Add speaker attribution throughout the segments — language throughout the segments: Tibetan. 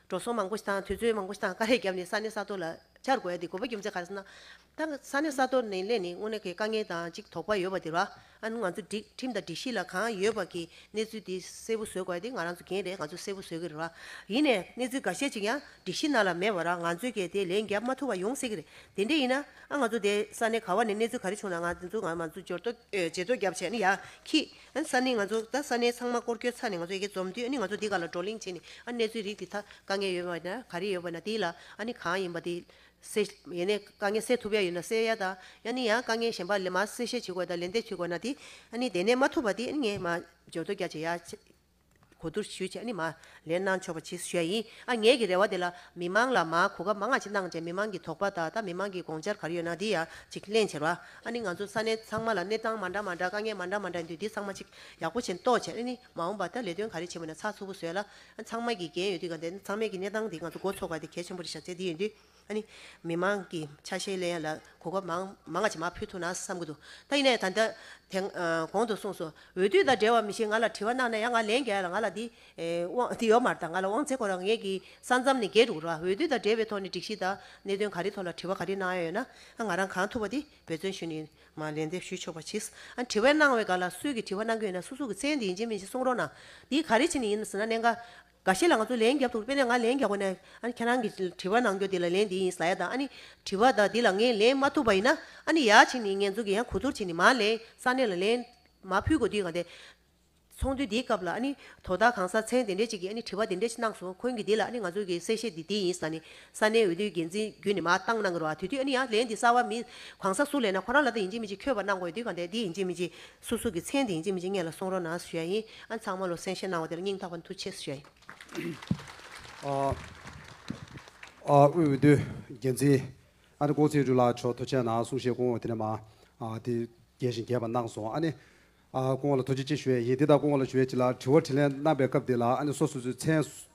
Speaker 1: འགྲོ་སོང་མང་པོ་དང་དུས་ཚོད་མང་པོ་དང་དཀའ་ལས་བརྒྱབ་ནས་ས་གནས་ས་གཏོར་ལ་བཅར་དགོས་ཡ་དེ་དགོས་པ་རྒྱུ་མཚན་ག་རེ་ཟེར་ན། ད་ས་གནས་ས་གཏོར་ནས་སླད་ནས་དངོས་གནས་ཀྱི་དཀའ་ངལ་དང་གཅིག་དོགས་པ་ཡོད་པ་དེ་ར་ཨ་ནུ་ང་ཚོ་སྒྲིག་ཁྲིམས་དང་སྒྲིག་གཞི་ལ་གང་ཡོད་པ་ཀྱི་གནས་ཚུལ་དེ་གསལ་པོ་བཟོས་དགོས་ཡ་དེ་ང་རང་ཚོ་རྒན་རེད་ང་ཚོ་གསལ་པོ་བཟོས་ཀྱི་རེད་ར་ཡིན་ནས་གནས་ཚུལ་འགའ་ཤས་ཅིག་ཡང་སྒྲིག་གཞི་ནང་ལ་མེད་པ་ར་ང་ཚོས་ཀྱི་དེ་ལན་བརྒྱབ་མ་ཐུབ་པ་ཡོང་སྲིད་ཀྱི་རེད་དེ་འདྲས་ཡིན་ན་ཨ་ང་ཚོ་དེ་ས་གནས་ག་བ་ནས་གནས་ཚུལ་ག་རེ་བྱུང་ན་ང་དེ་ཚོ་ང་མ་ཚོ་འཇོར་ཏོ་འཇལ་ཏོ་བརྒྱབ་བྱས་ན་ཡག་གི། ཨ་ས་ནི་ང་ཚོ་ད་ས་ནས་ཚང་མ་སྐོར་སྐྱོད་ཚར་ནས་ང་ཚོ་ཡི་གེ་འཛོམས་དུས་ཨ་ནི་ང་ཚོ་འདི་ག་ལ་བགྲོ་གླེང་བྱེད་ནས་ཨ་ནི་གནས་ཚུལ་རིགས་དེ་དག་དཀའ་ངལ་ཡོད་པ་ན་ག་རེ་ཡོད་པ་ན་དེ་ལ་ཨ་ནི་གང་ཡིན་པ་དེ་སེ་ཡེ་ནས་དཀའ་ངལ་སེལ་ཐུབ་ཡ་ཡོད་ན་སེལ་ཡ་དང་ཡ་ནི་ཡང་དཀའ་ངལ་གཞན་པ་ལས་མ་སེལ་བཤད་བྱེད་དགོས་དང་ལན་འདེབས་བྱེད་དགོས་ན་དེ་ཨ་ནི་དེ་ནས་མ་ཐུབ་པ་དེ་ཨ་ནི་ངས་མ་འཇོན་དོ་རྒྱ་བྱེད་ཡ། གོ་བསྡུར་ཞུས་བྱས་ནི་མ་ལན་གནང་ཆོག་པ་ཇི་སུ་ཞལ་ཡིན་ཨ་ངས་ཀྱི་རེ་བ་དེ་ལ་མི་མང་ལ་མ་གོ་སྐབས་མ་ང་ཅི་གནང་བྱས་མི་མང་གི་དོགས་པ་དང་ད་མི་མང་གི་དགོངས་འཆར་ག་རེ་ཡོད་ན་དེ་ཡང་ཅིག་གླེང་བྱེར་བ་ཨ་ནི་ང་ཚོ་ས་གནས་ཚང་མ་ལ་གནས་སྟངས་མ་འདྲ་མ་འདྲ་དཀའ་ངལ་མ་འདྲ་མ་འདྲ་ཡིན་དུས་དེ་ཚང་མ་ཅིག་ཡག་པོ་བྱེད་རྟོགས་བྱེད་ཨ་ནི་མ་འོངས་པ་ད་ལས་དོན་ག་རེ་བྱེད་མུས་ན་ཚགས་ཚུད་པོ་བཟོས་ལ་ཨ་ཚང་མ་གི་འགན་ཡོད་དུས་ག་འདི་ཚང་མས་ཀྱི་གནས་སྟངས་དེ་ང་ཚོ་འགོ་ཚོགས་པ་དེ་གལ་ཆེན་པོ་རེད་བྱ་ཚད་དེ་ཡིན་དུས། མི་དམངས་ཀྱི་ཆ་ཤས་ལེན་ལ་གོ་སྐབས་མང་ང་ཆེ་མ་ཕུལ་ཐུབ་ན་བསམ་གྱི་འདུག་ད་ཡིན་ནའི་ད་ལྟ་དེ་གོང་དུ་གསུངས་སོ་འོས་བསྡུ་དང་འབྲེལ་བ་མི་ཞིག་ང་ལ་དྲི་བ་གནང་ན་ཡང་ང་ལན་རྒྱག་ཡ་ང་ལ་འདི་ཡོག་མར་དང་ང་ལ་དབང་ཚད་ཁོ་རང་ངེད་ཀྱི་ས་མཚམས་ནས་བརྒལ་འགྲོ་གི་རོ་འོས་བསྡུ་དང་འབྲེལ་བའི་ཐོག་ནས་སྒྲིག་གཞི་དང་གནད་དོན་ག་རེ་ཐོག་ལ་དྲི་བ་ག་རེ་གནང་ཡ་ཡོད་ན་ང་རང་གང་ཐུབ་པ་དེ་འབད་བརྩོན་ཞུ་ནས་མ་ལན་འདེབས་ཞུ་ཆོག་པ་གྱིས་དྲི་བ་གནང་བའི་སྒང་ལ་སུས་ཀྱི་དྲི་བ་གནང་གི་ཡོད་ན་སུ་སུ་གྱི་མཚན་འདི་ཡིན་གཅིག་མིན་གཅིག་གསུང་རོགས་གནང་འདི་ག་རེ་བྱེད་ནི་ཡིན་ཟེར་ན་གནད་འགག་འགའ་ཤས་ལ་ང་ཚོ་ལན་རྒྱབ་འདུག་དཔེར་ན་ང་ལན་རྒྱག་པ་ནས་ཨ་ནི་ཁྱེད་རང་གིས་དྲི་བ་གནང་རྒྱུ་དེ་ལ་ལན་འདི་ཡིན་ཟ་ཡ་དང་ཨ་ནི་དྲི་བ་དག་འདི་ལ་ངས་ལན་མ་ཐུབ་པ་ཡིན་ན་ཨ་ནི་ཡག་བྱས་ནས་ངེད་ཚོ་གིས་ཡང་གོ་བསྡུར་བྱས་ནས་མ་ལན་ས་གནས་ལ་ལན་མ་ཕུལ་གོ་དུས་གང་དེ། ཚོགས་འདུའི་འདིའི་སྐབས་ལ་ཨ་ནི་དོ་བདག་གང་ས་མཚན་དེ་འདྲས་ཅིག་གིས་ཨ་ནི་དྲི་བ་དེ་འདྲས་ཅིག་གནང་སོང་ཁོང་གིས་འདི་ལ་ཨ་ནི་ང་ཚོ་གིས་གསལ་བཤད་འདི་འདི་ཡིན་ཟ་ནས་ས་གནས་འོས་བསྡུའི་འགན་འཛིན་བརྒྱུད་ནས་མ་བཏང་གནང་གི་རོགས་ཨ་དེ་དུས་ཨ་ནི་ཡང་ལན་འདི་གསར་བ་མི་གང་ས་སུ་ལན་ན་ཁོ་རང་ལ་འདི་ཡིན་གཅིག་མིན་གཅིག་འཁྱོལ་བར་གནང་དགོས་ཡོད་དུས་གང་དེ་འདི་ཡིན་གཅིག་མིན་གཅིག། སུ་སུ་གི་མཚན་དེ་ཡིན་ཅི་མིན་ཅི་ངེད་ལ་གསུང་རོགས་གནང་ཟེར་ཡ་ཡིན་ཨ་ཚང་མ་ལོ་སེང་བཤད་གནང་བ་དེ་ལ་སྙིང་ཐག་པ་མཐུ་ཆེ་ཟེར་ཡ་ཡིན།
Speaker 2: དབུས་འོས་བསྡུ་འགན་འཛིན་ཨ་ནེ་ཀོང་ཙེ་རུའུ་ལགས་མཆོག་ཐུགས་ཆེ་གནང་གསུང་བཤད་སྐོང་བ་དེ་ནས་མ་དེ་རྒྱས་བཞིན་རྒྱས་པ་གནང་སོང་ཨ་ནེ་ཀོང་བ་ལ་ཐུགས་རྗེ་ཆེ་ཞུ་ཡ་ཡིན་དེ་ལྟར་ཀོང་བ་ལ་ཞུ་བའི་ཆེད་ལ་དྲི་བ་དྲི་ལན་གནང་པའི་སྐབས་དེ་ལ་ཨ་ནེ་སོ་སོ་ཚོའི་མཚན་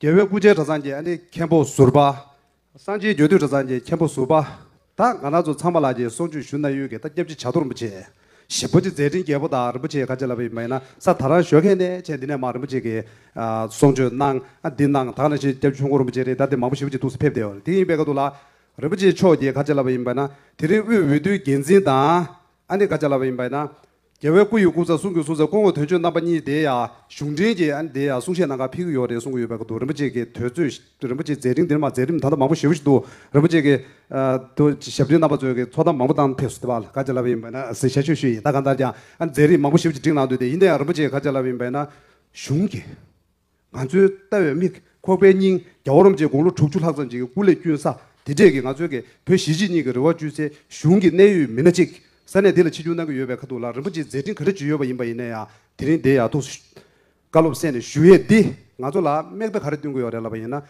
Speaker 2: རྒྱལ་བའི་སྐུ་ཆེན་གྲྭ་ཚང་གི་ཨ་ནེ་མཁན་པོ་ཟུར་པ། སངས་རྒྱས་རྒྱལ་དུས་གྲྭ་ཚང་གི་མཁན་པོ་ཟུར་པ་དང་ག་ན་ཚོ་ཚང་མ་ལགས་ཀྱི་སོགས་ཆོས་ཞུ་ན་ཡོད་ཀྱི་ད་སྐྱབས་རྗེ་བྱ་རྡོ་རིན་པོ་ཆེ། ཞི་པོ་ཆེ་མཛད་འཕྲིན་རྒྱལ་པོ་དང་རིན་པོ་ཆེ་ཁ་ཆེ་ལ་བའི་མ་ཡིན་ན་ས་ད་རང་ཞོལ་མཁན་ནས་ཆེ་འདི་ནས་མ་རིན་པོ་ཆེ་གི་སོགས་ཆོས་གནང་ཨ་འདི་གནང་དག་ན་ཤེས་སྐྱབས་ཆོས་འཁོར་རིན་པོ་ཆེ་རེད་ད་དེ་མང་པོ་ཞི་པོ་ཆེ་ཐུགས་སུ་ཕེབས་བསྡད་དེ་ཡིན་པའི་ཁ་ཐུག་ལ། རིན་པོ་ཆེ་མཆོག་གི་ཁ་ཆེ་ལ་བ་ཡིན་པ་ན་དེ་རིང་དབུས་འོས་བསྡུའི་འགན་འཛིན་དང་ཨ་ནེ་ཁ་ཆེ་ལ་བ་ཡིན་པ་ཡིན་ན་རྒྱལ་བའི་སྐུ་ཡི་སྐུ་ཚ་གསུང་གི་གསུང་ཚ་སྐུ་ངོ་དོན་ཆོས་རྣམ་པ་གཉིས་དེ་ཡང་གཞུང་འབྲེལ་གྱི་ཨ་ནི་དེ་ཡང་གསུང་བཤད་གནང་ཁར་ཕིག་གི་ཡོད་རེད་གསུང་གི་ཡོད་པའི་སྐབས་འདུག་རིན་པོ་ཆེ་གི་དོད་ཚོད་རིན་པོ་ཆེ་མཛད་རིང་འདིར་མ་མཛད་རིམ་ད་ལྟ་མང་པོ་ཞེ་བོ་ཞིག་འདུག་རིན་པོ་ཆེ་གི་དོ་ཞབས་འདྲེན་རྣམ་པ་ཚོས་གི་ཚོགས་གཏམ་མང་པོ་བཏང་ཕེབས་སུ་བལ་ག་ཅི་ལབ་པ་ཡིན་པས་ན་སི་ཞལ་ཆོས་ཞུ་ཡིན་ད་གང་ལྟར་ཀྱང་ཨ་ནི་མཛད་རིམ་མང་པོ་ཞེ་བོ་ཅིག་བསྒྲིགས་གནང་འདུག་དེ་ཡིན་དེ་ཡང་རིན་པོ་ཆེ་ག་ཅི་ལབ་ཡིན་པས་ན་གཞུང་གི། ང་ཚོའི་ལྟ་བའི་མིག་ཁོག་པའི་སྙིང་རྒྱ་བོ་རོམ་བཅས་དགུང་ལོ་དྲུག་ཅུ་ལྷག་ཙམ་གྱི་སྐུ་ལས་བསྐྱོན་ས་དེ་འདྲས་ཀྱི་ང་ཚོའི་གེ་བོད་གཞིས་བྱེས་གཉིས་ཀྱི་རེ་བ་བཅུད་ཚེ་གཞུང་གི་གནད་ཡོད་མི་སྣ་གཅིག་ས་གནས་འདི་ལ་ཕྱི་སྐྱོད་གནང་གི་ཡོད་པའི་ཁ་ཐུག་ལ་རིན་པོ་ཆེའི་མཛད་འཕྲིན་ག་འདྲ་བརྒྱུད་ཡོད་པ་ཡིན་པ་ཡིན་ན་ཡང་དེ་རིང་འདི་ཡག་ཐུགས་བཀའ་སློབ་གསན་ནས་ཞུ་ཡས་འདི་ང་ཚོ་ལ་དམིགས་བརྡ་ག་རེ་བསྟུན་དགོས་ཡོད་རེད་ལབ་པ་ཡིན་ན་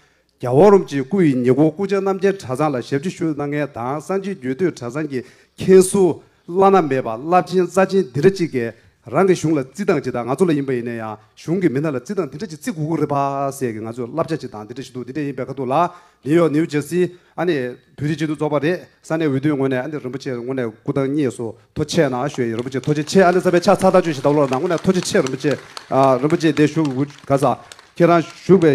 Speaker 2: རྒྱ་བོ་རོམ་གྱི་སྐུ་ཡི་ཉེ་འཁོར་སྐུ་ཕྱྭ་རྣམ་རྒྱལ་གྲྭ་ཚང་ལ་ཞབས་ཕྱི་ཞུ་གནང་མཁན་དང་གསང་ཆེན་རྒྱུད་སྟོད་གྲྭ་ཚང་གི་མཁན་ཟུར་བླ་ན་མེད་པ་རླབས་ཆེན་རྩ་ཆེན་འདི་འདྲ་གཅིག་གིས་རང་གི་གཞུང་ལ་བརྩི་སྟངས་ཇི་ལྟར་ང་ཚོ་ལ་ཡིན་པ་ཡིན་ན་ཡང་གཞུང་གི་མི་སྣ་ལ་བརྩི་སྟངས་འདི་འདྲ་གཅིག་བརྩི་དགོས་ཀྱི་རེད་པ་ཟེར་གི་ང་ཚོས་བསླབ་བྱ་གཅིག་དང་འདི་འདྲ་ཞིག་འདུག་འདི་འདྲ་ཡིན་པའི་ཁ་ཐུག་ལ་ནིའུ་ཡོག་ནིའུ་ཇར་སི་ཨ་ནི་བོད་རིགས་སྤྱི་འཐུས་ཚོགས་པ་རེད་ས་གནས་འོས་བསྡུའི་ངོས་ནས་ཨ་ནི་རིན་པོ་ཆེ་ངོས་ནས་སྐུ་ཐང་གཉིས་སུ་ཐོ་ཆེ་ནང་བཞུགས་ཡིན་རིན་པོ་ཆེ་ཐོ་ཆེ་ཆེ་ཨ་ནི་ས་པའི་ཕྱག་ཚགས་དག་བཅོས་ཞིག་བཏང་བློ་ལ་ནང་ངོས་ནས་ཐོ་ཆེ་ཆེ་རིན་པོ་ཆེ་རིན་པོ་ཆེ་འདས་བཞུགས་དགོས་ག་ས་ཁྱེད་རང་བཞུགས་པའི་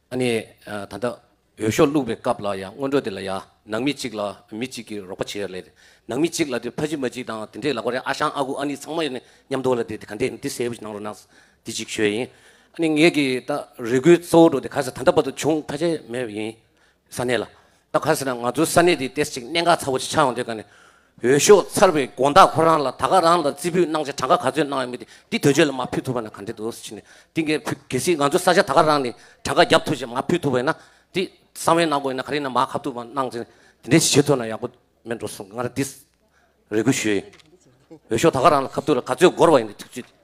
Speaker 3: ཨ་ནེ། ད་ལྟ་འོས་ཤོག་བླུགས་པའི་སྐབས་ལ་ཡང་སྔོན་འགྲོ་དེ་ལ་ཡང་ནང་མི་གཅིག་ལ་མི་གཅིག་གིས་རོགས་པ་བྱེད་ཡ་ལེད། ནང་མི་གཅིག་ལ་དེ་ཕ་གཅིག་མ་གཅིག་དང་དེ་འདྲས་ལ་གོ་རེ་ཨ་ཞང་ཨ་ཁུ་ཨ་ནི་ཚང་མ་ཡོད་ནས་མཉམ་དུ་ལ་དེ་དེ་ག་འདྲས་ཡིན་དེ་ཟེར་བུ་ཞིག་གནང་རོགས་གནང། དེ་གཅིག་ཤོས་ཡིན། ཨ་ནེ་ངེད་ཀྱི་ད་རེ་སྒུག་གཙོ་བོ་འགྲོ་དེ་ག་ས་ད་ལྟ་བར་དུ་བྱུང་ཐ་ཆད་མེད་པ་ཡིན། ས་གནས་ལ་ད་ག་ཟེར་ན་ང་ཚོའི་ས་གནས་འདིའི་སྟེས་ཅིག་གནད་འགག་ཚ་བོ་ཅིག་ཆགས་ཡོང་དུས་ཀ་ནས། འོས་ཤོག་ཚར་བའི་དགོངས་དག་ཁོ་རང་ལ་ད་ག་རང་ལ་རྩིས་འབུལ་གནང་ཆེད་གྲངས་ཀ་ག་ཚོད་གནང་ཡོད་མེད་དེ་དོན་གཅོད་ལ་མ་ཕུལ་ཐུབ་པ་ན་ག་འདྲེ་འདུག་ཕྱི་ནས་དེ་འགས་ཕུལ་གལ་སྲིད་ང་ཚོའི་ས་ཆ་ད་ག་རང་ནས་གྲངས་ཀ་བརྒྱབ་ཐུབ་ཅེས་མ་ཕུལ་ཐུབ་པ་ཡིན་ན་དེ་གསང་བའི་ནང་དགོན་ནས་ག་རེ་ན་མ་ཁ་ཐུག་པ་གནང་ཆེད་དེ་འདྲས་ཞིག་བྱེད་ཐུབ་ན་ཡག་པོ་མེད་འགྲོ་གསུངས་ང་རང་འདིས་རེ་སྐུལ་ཞུས་ཡིན། འོས་ཤོག་ད་ག་རང་ལ་ཁ་ཐུག་ལ་ག་ཚོད་འགོར་བ་ཡིན་དེ་ཐུགས་རྗེ་ཆེ།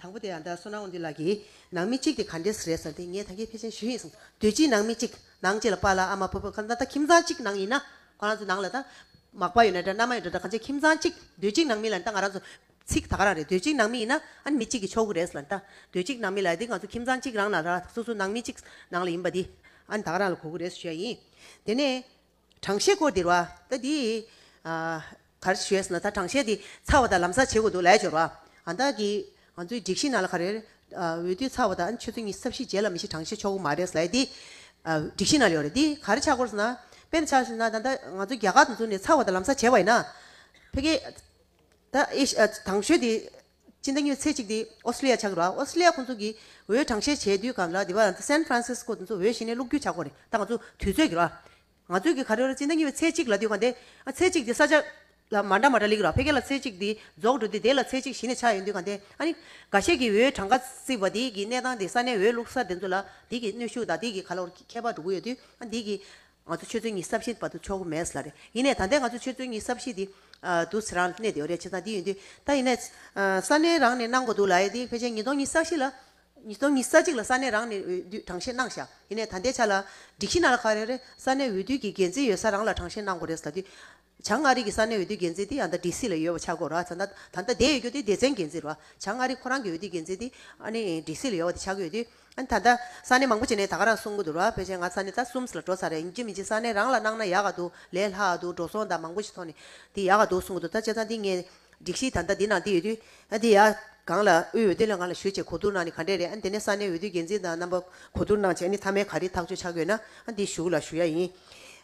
Speaker 1: དང་པོ་དེ་ཡང་ད་གསོལ་ནའོ་འདི་ལགས་ཀྱི། ནང་མི་གཅིག་དེ་ག་འདྲས་རེད་ཟེར་ཏེ་ངས་ཐང་ཀའི་ཕལ་ཆེན་ཞུས་ཡིན་གསུངས། དུས་ཕྱིས་ནང་མི་གཅིག་ནང་གཅིག་ལ་པཱ་ལགས་ཨ་མ་བུ་བུ་ཁ་ན་ད་ཁྱིམ་ཚང་གཅིག་ནང་ཡིན་ན། ཁོ་རང་ཚོའི་ནང་ལ་ད། མག་པ་ཡོད་ན་འདྲ་མནའ་མ་ཡོད་ན་འདྲ་གང་ཆེ་ཁྱིམ་ཚང་གཅིག་དུས་གཅིག་ནང་མི་ལ་ད་ང་རང་ཚོ། ཚིག་ད་ག་རང་རེད་དུས་གཅིག་ནང་མི་ཡིན་ན་ཨ་ནི་མི་གཅིག་གི་ཆོག་གི་རེད་ཟེར་ལ་ད། དུས་གཅིག་ནང་མི་ལ་ད་ང་ཚོ་ཁྱིམ་ཚང་གཅིག་རང་ལ་ད་སོ་སོ་ནང་མི་གཅིག་ནང་ལ་ཡིན་པ་དེ། ཨ་ནི་ད་ག་རང་ལ་གོ་གི་རེད་ཟེར་བཤད་ཡིན། དེ་ནས། དྲང་ཤེས་སྐོར་འདིར་བ། ད་འདི། གར་ཞོས་ན་ད་དྲང་ཤེས་འདི་ཚར་བ་དང་ལམ་སར་བྱེད་དགོས་འདུག་ལས་སྦྱོར་བ། ང་བདག་གིས། ང་ཚོའི་སྒྲིག་གཞི་ནང་ལ་ག་རེར། འོས་བསྡུ་ཚར་བ་དང་ཆོས་ཚུལ་གཉིས་གསབ་གཞི་རྗེས་ལ་མི་ཤེས་དྲང་ཤེས་ཆོག་གི་མ་རེད་ཟེར་ལ་འདི། སྒྲིག་གཞི་ནང་ལས་ཡོད་རེད་འདི་གར་ཆགས་སྐོར་ཟེར་ན། དཔེར་ན་ཆགས་ཟེར་ན་ད་ལྟ་ང་ཚོ་རྒྱ་གར་དུ་འཛུལ་ནས་ཚར་བ་དང་ལམ་སར་བྱེད་བ་ཡིན་ན། ཕལ་སྐད། ད་ཨེ། དྲང་ཤོས་འདི། ཕྱི་ཟླ་གཉིས་ཚེས་གཅིག་སྟེ་ཨོ་སི་ལི་ཡ་ཆགས་ཀྱི་རེད། ཨོ་སི་ལི་ཡ་ཁོང་ཚོ་གིས་འོས་གྲངས་བཤད་བྱས་དུས་ག་ལ་དེ་བ་རང་སན་ཕྲན་སིས་ཀོ་དེ་ཚོ་འོས་གཞི་ནས་བླུག་རྒྱུ་ཆགས་སྐོར་རེད་ད་ང་ཚོ་དུས་ཚོད་ཀྱི་རེད། ང་ཚོས་གི་ག་རེ་རེད་ཕྱི་ཟླ་གཉིས་པའི་ཚེས་གཅིག་ལ་དུས་ག་འདི། ཚེས་གཅིག་དེ་ས་ཆ། ལ་མ་འདྲ་མ་འདྲ་ལེགས་ར་ཕེ་གེ་ལ་ཚེས་གཅིག་དེ་རྫོགས་འགྲོ་དུས་དེ་ལ་ཚེས་གཅིག་གཞི་ནས་ཆགས་ཡོད་དུས་ག་འདི། འགའ་ཤས་ཀྱིས་འོས་གྲངས་ག་ཚིག་བ་དེ་གི་གནས་སྟངས་དེ་ས་ནས་འོས་བླུག་ས་དེ་ཚོ་ལ་དེ་གི་གནོད་ཤུགས་དང་དེ་གི་ག་ལ་བར་ཁྱད་པར་འགྲོ་གི་ཡོད་དུས་དེ་གི། ང་ཚོ་ཆོས་ཚུལ་གཉིས་བསམ་བཞིན་པ་དུ་ཆོག་གི་མེད་ལ་རེད། ཡིན་ནས་ད་ལྟའི་ང་ཚོ་ཆོས་ཚུལ་གཉིས་བསམ་བཞིན་དེ་དུ་ཚེ་རང་གནས་དེའོ་རེད་བྱས་ཙང་དེ་ཡིན་དུས་ད་ཡིན་ནས། ས་གནས་རང་ནས་གནང་དགོས་འདུག་ལ་ཡིན་དུས་ཕལ་ཆེར་ཉིས་སྟོང་ཉིས་ས་གཞི་ལ། ཉིས་སྟོང་ཉིས་ས་གཅིག་ལ་ས་གནས་རང་ནས་འོས་བསྡུས་གྲངས་བཤེར་གནང་བཞག་ཡིན་ནས་ད་ལྟའི་ཆ་ལ། སྒྲིག་གཞི་ནང་ལ་ག་རེ་རེད་ས་གནས་འོས་བསྡུས་ཀྱི་འགན་འཛིན་ཡོད་ས་རང་ལ་གྲངས་བཤེར་གནང་དགོས་རེད་ཟེར་དུས། བྱང་མངའ་རིས་ཀྱི་ས་གནས་འོས་བསྡུའི་འགན་འཛིན་དེ་ཡང་ད་ཀྲི་སི་ལ་ཡོད་པ་ཆགས་སྒོ་ར་ཚ་ད་ད་དེ་ཡོད་རྒྱུ་དེ་སྡེ་ཚན་འགན་འཛིན་ར་བྱང་མངའ་རིས་ཁོ་རང་གི་འོས་བསྡུའི་འགན་འཛིན་དེ་ཨ་ནི་ཀྲི་སི་ལ་ཡོད་པ་དེ་ཆགས་ཀྱི་ཡོད་དུས་ཨ་ནི་ད་ད་ས་གནས་མང་པོ་བྱས་ནས་ད་ག་རང་གསུང་གི་འདུག་ར་ཕལ་ཆེར་ང་ས་གནས་ད་གསུམ་ལ་འགྲོ་ཚར་རེད་ཅི་མི་ཅི་ས་གནས་རང་ལ་གནང་ན་ཡག་ག་འདུག་ལས་ལྷག་འདུག་འགྲོ་སོང་ད་མང་པོ་ཞིག་ཐོག་ནས་དེ་ཡག་ག་འདུག་གསུང་གི་འདུག་ད་བྱས་ཙང་དེ་ངས་སྒྲིག་གཞི་ད་ད་དེ་ནང་དེ་ཡོད་དུས་ཨ་དེ་ཡག་གང་ལ་དབུས་འོས་བསྡུ་ལས་ང་ལ་ཞུ་བྱས་གོ་བསྡུར་གནང་ནི་ག་འདྲས་རེད་ཨ་ནི་དེ་ནས་ས་གནས་འོས་བསྡུའི་འགན་འཛིན་དང་རྣམ་པ་གོ་བསྡུར་གནང་བྱས་ཨ་ནི་མཐའ་མའི་ག་རེ་ཐག་གཅོད་ཆགས་ཀྱི་ཡོད་ན་ཨ་དེ་ཞུགས་ལ་ཞུ་ཡ་ཡིན་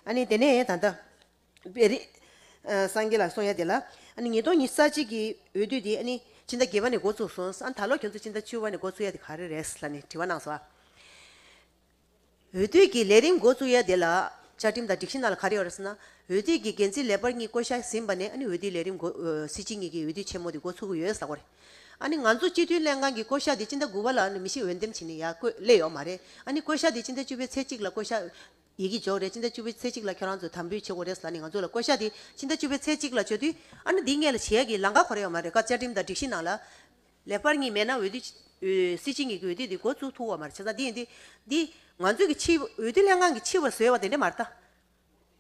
Speaker 1: ཨ་ནི་དེ་ནས་ད་ད། པའི་རིགས། སངས་རྒྱས་ལ་གསུང་ཡ་དེ་ལ། ཉིས་སྟོང་ཉིས་བརྩ་གཅིག་གི་འོས་བསྡུ་དེ། ཕྱི་ཟླ་བརྒྱད་བ་ནས་འགོ་ཚུགས་སོང། ད་ལོ་ཁྱོད་ཚོ་ཕྱི་ཟླ་བཅུ་བ་ནས་འགོ་ཚུགས་ཡ་དེ་ག་རེ་རེད་ལ་ནི་དྲི་བ་གནང་སོང། འོས་བསྡུ་གི་ལས་རིམ་འགོ་ཚུགས་ཡ་དེ་ལ། བཅའ་ཁྲིམས་དང་སྒྲིག་གཞི་ནང་ལ་ག་རེ་ཡོད་རེད་ཟེར་ན། འོས་བསྡུ་གི་འགན་འཛིན་ལས་འབར་གཉིས་བསྐོ་བཞག་ཟིན་པ་ནས་འོས་བསྡུའི་ལས་རིམ་འགོ། སྲིད་སྤྱི་གཉིས་ཀྱི་འོས་བསྡུ་ཆེན་མོ་དེ་འགོ་ཚུགས་ཀྱི་ཡོད་ཟེར་ས་གོ་རེད། ང་ཚོ་སྤྱི་འཐུས་ལྷན་ཁང་གི་བསྐོ་བཞག་དེ་ཕྱི་ཟླ་དགུ་བ་ལ་ནི་མི་ཤི་འོས་འདེམས་བྱས་ནས་ཡ་བསྐོས་སླེ་ཡོད་མ་རེད། བསྐོ་བཞག་དེ་ཕྱི་ཟླ་བཅུ་བའི་ཚེས་གཅིག་ལ་བསྐོ་བཞག། ཡི་གེ་འཇོག་རེས་སྤྱི་ཟླ་བཅུ་པའི་ཚེས་གཅིག་ལ་ཁྱོད་རང་ཚོས་དམ་འབུལ་བྱེད་དགོས་རེད་ཟེར་ནས་ང་ཚོ་ལ་བསྐོ་གཞག་དེ་ཕྱི་ཟླ་བཅུ་པའི་ཚེས་གཅིག་ལ་བཅོལ་དུས། ཨ་ན་འདི་ངས་ལ་བྱེད་ཀྱི་ལང་ཀ་གོ་རེ་ཡོད་མ་རེད་སྐབས་བཅའ་ཁྲིམས་དང་སྒྲིག་གཞི་ནང་ལ། ལེགས་པར་གཉིས་མེད་ན་འོས་བསྡུ། སྲིད་སྤྱི་གཉིས་ཀྱི་འོས་བསྡུ་དེ་འགོ་བཙུགས་ཐུབ་འོག་མ་རེད་བྱས་ཙང་འདི་ཡིན་འདི། འདི། ང་ཚོས་ཀྱི་ཕྱི། འོས་བསྡུ་ལྷན་ཁང་གི་ཕྱི་བར་བཟོས་བ་དེ་འདྲ་མ་རེད་ད།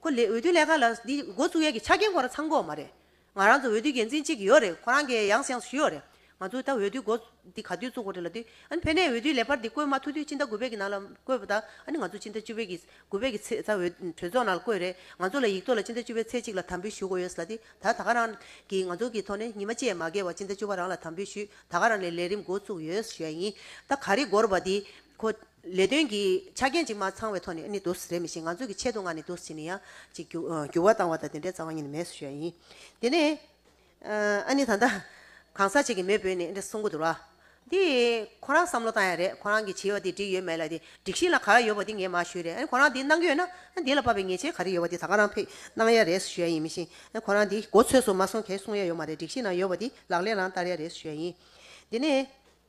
Speaker 1: ཁོ། འོས་བསྡུ་ལྷན་ཁང་ལ་འདི་འགོ་བཙུགས་ཡས་ཀྱི་ཆ་རྐྱེན་ཁོ་རང་ཚང་འགོ་འོག་མ་རེད། ང་རང་ཚོ་འོས་བསྡུའི་འགན་འཛིན་གཅིག་ཡོད་རེད་ཁོ་རང་གི་ཡང་སེང་ཞུས་ཡོད་རེད་ང་ཚོ་ད་འོས་བསྡུའི་འགོ་འདི་ག་དུས་བཙུགས་གོ་རེད་ལ་དུས་ཨ་ནི་ཕན་ནས་འོས་བསྡུའི་ལས་འཕར་འདི་བསྐོས་མ་ཐུག་དུས་སྤྱི་ཟླ་དགུ་པའི་གི་ནང་ལ་བསྐོས་པ་ད་ཨ་ནི་ང་ཚོ་སྤྱི་ཟླ་བཅུ་པའི་གི་དགུ་པའི་གི་ཚེས་ད་འོས་གྲོས་ཚོགས་ནང་ལ་བསྐོས་རེད་ང་ཚོ་ལ་ཡིག་ཐོག་ལ་སྤྱི་ཟླ་བཅུ་པའི་ཚེས་གཅིག་ལ་དམ་འབུལ་ཞུ་དགོས་ཡོད་ལ་དེ་ད་ད་ག་རང་གིས་ང་ཚོ་གི་ཐོག་ནས་ཉི་མ་བཅས་མ་བརྒལ་བར་སྤྱི་ཟླ་བཅུ་པ་རང་ལ་དམ་འབུལ་ཞུས་ད་ག་རང་ནས་ལས་རིམ་འགོ་བཙུགས་ཡོད་ཞུས་ཡ་ཡིན་ད་ག་རི་འགོར་བ་འདི་ཁོ། ལས་དོན་གྱི་ཆ་རྐྱེན་ཅིག་མ་ཚང་བའི་ཐོག་ནས་ནི་དུ་སེ་རེད་མི་ཤེས་ང་ཚོ་གི་ཆེད་དུ་ང་ནི་དུ་སེ་ནི་ཡང་ཅིག་འགྱུར་བ་བཏང་བ་དང་དེ་འདྲའི་རྩ་བ་ཉིད་ནི་མེད་བཟོ་བྱས་ཡིན། དེ་ནས་ཨ་ནི་ད་ལྟ་གང་ཟག་ཅིག་གི་མེས་བོས་ནས་འདི་གསུང་གི་འདུག་ལ། འདི་ཁོ་རང་བསམ་བློ་བཏང་ཡ་རེད་ཁོ་རང་གི་བྱིས་བ་འདི་འགྲིག་ཡོད་མེད་ལ་དེ་སྒྲིག་གཞི་ལ་ག་རེ་ཡོད་པ་འདི་ངས་མ་ཞུས་རེད་ཨ་ནི་ཁོ་རང་འདི་གནང་གི་ཡོད་ན་ཨ་འདི་ལ་བབ་པའི་ཉེས་ཆད་ག་རེ་ཡོད་པ་འདི་ད་ག་རང་ཕེ་གནང་ཡ་རེད་བཟོ་བྱས་ཡིན་མི་ཤེས་ཨ་ཁོ་རང་འདི་གོ་ཚོད་སུ་མ་སོང་གས་གསུང་ཡ་ཡོད་མ་རེད་སྒྲིག་གཞི་ནང་ཡོད་པ་འདི་ལག་ལེན་རང་བསྟར་ཡ་རེད་བཟོ་བྱས་ཡིན། དེ་ནས།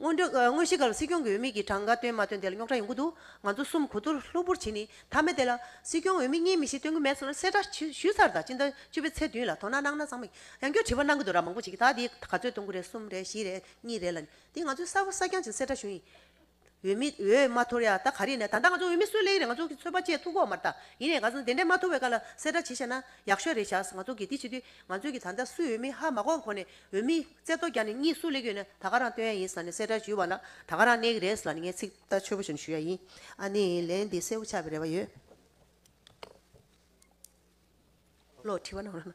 Speaker 1: དངོས་གཞི་ག་ལ་སྲིད་སྐྱོང་གི་འོས་མི་གིས་གྲངས་ཀ་སྟོན་མ་སྟོན་དེ་ལ་རྙོག་དྲ་ཡོང་གི་འདུག་ང་ཚོ་གསུམ་གོ་ཐུར་ལྷུག་པོར་བྱེད་ནི་ཐབས་མེད་དེ་ལ། སྲིད་སྐྱོང་འོས་མི་གཉིས་མི་ཞིག་སྟོན་གི་མེད་ཟེར་ན་གསལ་བསྒྲགས་ཞུས་ཚར་དང་སྤྱི་ཟླ་བཅུ་པའི་ཚེས་བདུན་ལ་དོ་སྣང་གནང་ན་བཟང་མོ། ཡང་སྐྱོ་དྲི་བ་གནང་གི་འདུག་ར་མང་པོ་བྱེད་ཀྱི་ད་འདི་ག་ཚོད་སྟོན་གི་རེད་གསུམ་རེད་བཞི་རེད་གཉིས་རེད་ལ་ནི་དེ་ང་ཚོའི་གསར་བུ་གསར་རྐྱང་ཅིག་གསལ་བསྒྲགས་ཞུ་ཡིན། འོས་མི་འོས་མ་ཐོར་ཡག་ད་ག་རེད་ན་ད་ལྟ་ང་ཚོ་འོས་མི་གསོད་སླད་ཡིན་རེད་ང་ཚོ་གི་ཚོད་པ་བཅད་ཐུག་གོ་མ་རེད་ད་ཡིན་རེད་ག་ཚོད་ན་དེ་འདྲས་མ་ཐུག་བའི་བཀའ་ལ་གསལ་སྒྲག་བྱེད་ཤག་ན་ཡག་ཤོས་རེད་ཤག་ང་ཚོ་གི་དེ་བྱེད་དུས་ང་ཚོ་གི་ད་ལྟ་སུས་འོས་མི་ཧ་མ་གོ་གོ་ནས་འོས་མི་རྩེ་ཏོ་རྒྱག་ནས་གཉིད་སུ་ལེགས་ཡོད་ན་ད་ག་རང་སྟོན་ཡ་ཡིན་ས་ནས་གསལ་སྒྲག་ཞུས་བ་ལ་ད་ག་རང་གནས་གི་རེད་ས་ནས་ངས་ཚིག་ཐག་ཆོད་པོ་ཞིག་ཞུ་ཡ་ཡིན་ཨ་ནི་ལན་འདི་གསལ་བོ་ཆགས་པའི་རེ་བ་ཡོད། བློ་བྲི་བ་ན་འོ་ན།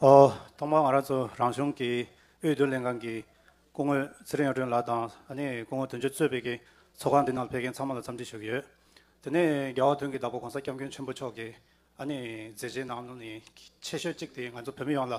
Speaker 4: ཐོག་མར་ང་རང་ཚོ་རང་གཞུང་གི་དབུས་བསྡུ་ལེན་ཁང་གི་སྐུ་ངོས་ཚེ་རིང་གཡུང་དྲུང་ལགས་དང་ཨ་ནེ་སྐུ་ངོ་དོན་གཅོད་གཙོས་པའི་གིས་ཚོགས་ཁང་འདི་ནང་ཕེབས་མཁན་ཚང་མ་ལ་འཚམས་འདྲི་ཞུ་གི་ཡོད། དེ་ནས་རྒྱལ་བ་དོན་གྱི་བདག་པོ་གོང་ས་སྐྱབས་མགོན་ཆེན་པོ་མཆོག་གིས་ཨ་ནེ་མཛད་རྗེས་ནང་ནས་ཆེ་ཤོས་གཅིག་དེ་ང་ཚོ་བོད་མི་ཡོངས་ལ་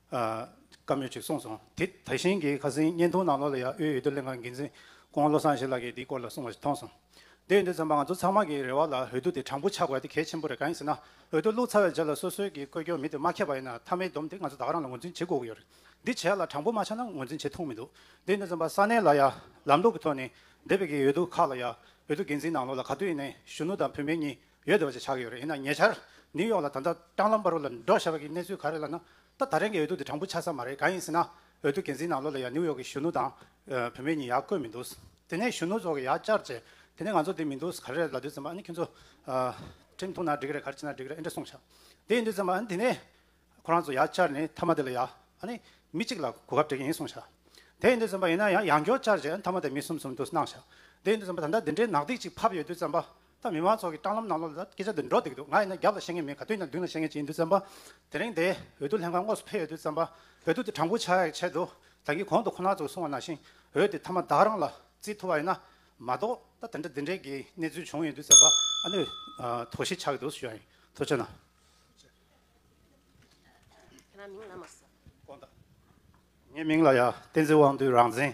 Speaker 4: བཀའ་མོལ་ཅིག་གསུངས་སོང་དེ་དེ་བཞིན་གྱི་ཁ་སིང་བརྙན་ཐུང་ནང་ལོགས་ལ་ཡང་དབུས་འོས་བསྡུ་ལྷན་ཁང་འགན་འཛིན་ཀོང་བློ་བཟང་ཞེས་ལགས་ཀྱིས་དེའི་སྐོར་ལ་གསུངས་པ་ཞིག་མཐོང་སོང། དེ་འོས་བསྡུ་ཚན་པ་ང་ཚོ་ཚང་མ་གི་རེ་བ་ལ་འོས་བསྡུ་དེ་དྲང་པོ་ཆགས་དགོས་དེ་གལ་ཆེན་པོ་རེད་གང་ཡིན་ཟེར་ན་འོས་བསྡུ་བླུགས་ཚར་བའི་རྗེས་ལ་སོ་སོའི་གི་བཀོད་སྐྱོར་མི་དེ་མ་ཁེབས་པ་ཡིན་ན་མཐའ་མའི་བསྡོམས་དེ་ང་ཚོ་དག་རང་ལ་ངོས་འཛིན་བྱེད་དགོས་ཀྱི་ཡོད་རེད་འདི་བྱས་ལ་དྲང་པོ་མ་ཆགས་ན་ངོས་འཛིན་བྱེད་ཐུག་མི་འདུག་དེ་འོས་བསྡུ་ཚན་པ་ས་གནས་ལ་ཡང་ལམ་ལུགས་ཀྱི་ཐོག་ནས་འདས་པའི་གི་འོས་བསྡུ་ཁག་ལ་ཡང་འོས་བསྡུ་འགན་འཛིན་ནང་ལོགས་ལ་ག་དུས་ནས་གཞོན་ནུ་དང་བུད་མེད་གཉིས་ཡོད་དོ་ཞེས་བྱ་གི་ཡོད་རེད་ཡིན་ན་ཉེ་ཆར་ནིའུ་ཡོག་ལ་ད་ལྟ་སྤྲང་ལམ་པར་བ་ལ་འགྲོ་ཞེས་པ་གི་གནས་ཚུལ་ག་རེད་ལབ་ན་ད་ད་རེན་གི་འོས་བསྡུ་དེ་དྲང་པོ་ཆགས་ས་མ་རེད་ག་ཡིན་ཟེར་ན་འོས་བསྡུ་འགན་འཛིན་ནང་ལོགས་ལ་ཡང་ནིའུ་ཡོག་གི་གཞོན་ནུ་དང་བུད་མེད་གཉིས་ཡག་བཀོད་མི་འདུག་དེ་ནས་གཞོན་ནུ་ཚོགས་ཀྱི་ཡག་བཅར་བྱས་དེ་ནས་ང་ཚོ་དེ་མི་འདུག་ག་རེད་ལབ་དུས་ཙམ་པ་ཨ་ནི་ཁྱོད་ཚོ་ཁྲིམས་ཐོག་ན་འགྲིག་གི་རེད་ག་རེ་བྱས་ན་འགྲིག་གི་རེད་ཨེ་འདྲ་གསུངས་ཤག་དེ་ཡིན་དུས་ཙམ་པ་ཨ་ནི་དེ་ནས་ཁོ་རང་ཚོ་ཡག་བཅར་ནས་མཐའ་མ་དེ་ལ་ཡག་ཨ་ནི་མི་གཅིག་ལ་གོ་སྐབས་སྤྲད་ཀྱི་ཡིན་གསུངས་ཤག་དེ་ཡིན་དུས་ཙམ་པ་ཡིན་ན་ཡང་ཡག་མགྱོགས་བཅར་བྱས་ཨ་ནི་མཐའ་མ་དེ་མི་གསུམ་གསུམ་དུ་གནང་ཤག་དེ་ཡིན་དུས་ཙམ་པ་ད་ལྟ་འདི་འདྲའི་ནག་ཐིག་ཅིག་ཕབ་ཡོད་དུས་ཙམ་པ་ད་མི་མང་ཚོགས་ཀྱི་སྤྲང་ལམ་གནང་ལོ་ལ་སྐད་ཆ་འདི་འགྲོ་བསྡད་ཀྱི་འདུག་ང་ཡིན་ན་རྒྱབ་ལ་བཤད་ངེས་མེད་ག་དུས་ན་མདུན་ལ་བཤད་ངེས་ཅི་ཡིན་དུས་བཙན་པ་དེ་རིང་འདས་འོས་བསྡུ་ལྷན་ཁང་དངོས་སུ་ཕེབས་ཡོད་དུས་བཙན་པ་བོད་དུ་དེ་དྲང་པོ་ཆགས་ཡག་ཆེད་དུ་ད་གིན་གོང་དུ་ཁོ་ན་ཚོ་གསུང་བ་ནང་བཞིན་འོས་དེ་མཐའ་མ་བདག་རང་ལ་རྩིས་ཐུབ་པ་ཡིན་ན་མ་གཏོགས་ད་དེ་འདྲ་དེ་འདྲའི་གི་གནས་ཚུལ་བྱུང་ཡོད་དུས་བཙན་པ་ཨ་ནུས་དོགས་གཞི་ཆགས་ཀྱི་འདུག་ཞུ་ཡ་ཡིན་ཐུགས་ཆེ་གནང། ངའི་མིང་ལ་ཡ་བསྟན་འཛིན་དབང་འདུས་རང་བཙན།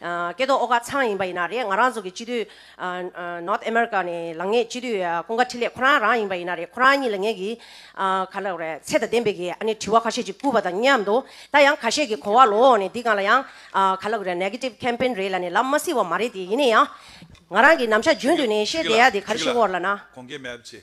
Speaker 5: སྐད་དོག་ཨོ་ཁ་ཚང་ཡིན་པ་ཡིན་ན་རེད་ང་རང་ཚོ་གི་སྤྱི་འཐུས། North America། ནས་ལངས་ངེས་སྤྱི་འཐུས་ཀུན་དགའ་འཕྲིན་ལས་ཁོ་རང་རང་ཡིན་པ་ཡིན་ན་རེད་ཁོ་རང་གཉིས་ལ་ངེད་ཀྱིས། ག་ལ་རེད་ཚད་དང་ལྡན་པའི་གི་ཨ་ནི་དྲི་བ་ཁ་ཤས་ཅིག་བསྐུར་བ་དང་མཉམ་དུ། ད་ཡང་ཁ་ཤས་ཀྱི་གོ་བ་ལོག་ནས་འདི་གང་ལ་ཡང། ག་ལ་རེད Negative Campaign རེད་ལ་ནི་ལབ་མ་སྲིད་བ་མ་རེད་དེ་ཡིན་ན་ཡང། ང་རང་གིས་ནམ་ཞག་རྒྱུན་དུ་ནས་བཤད་བསྡད་ཡ་དེ་ག་རེ་ཞིག་བོར་ལ་ན། གོང་གི་མེ་ཕྱི།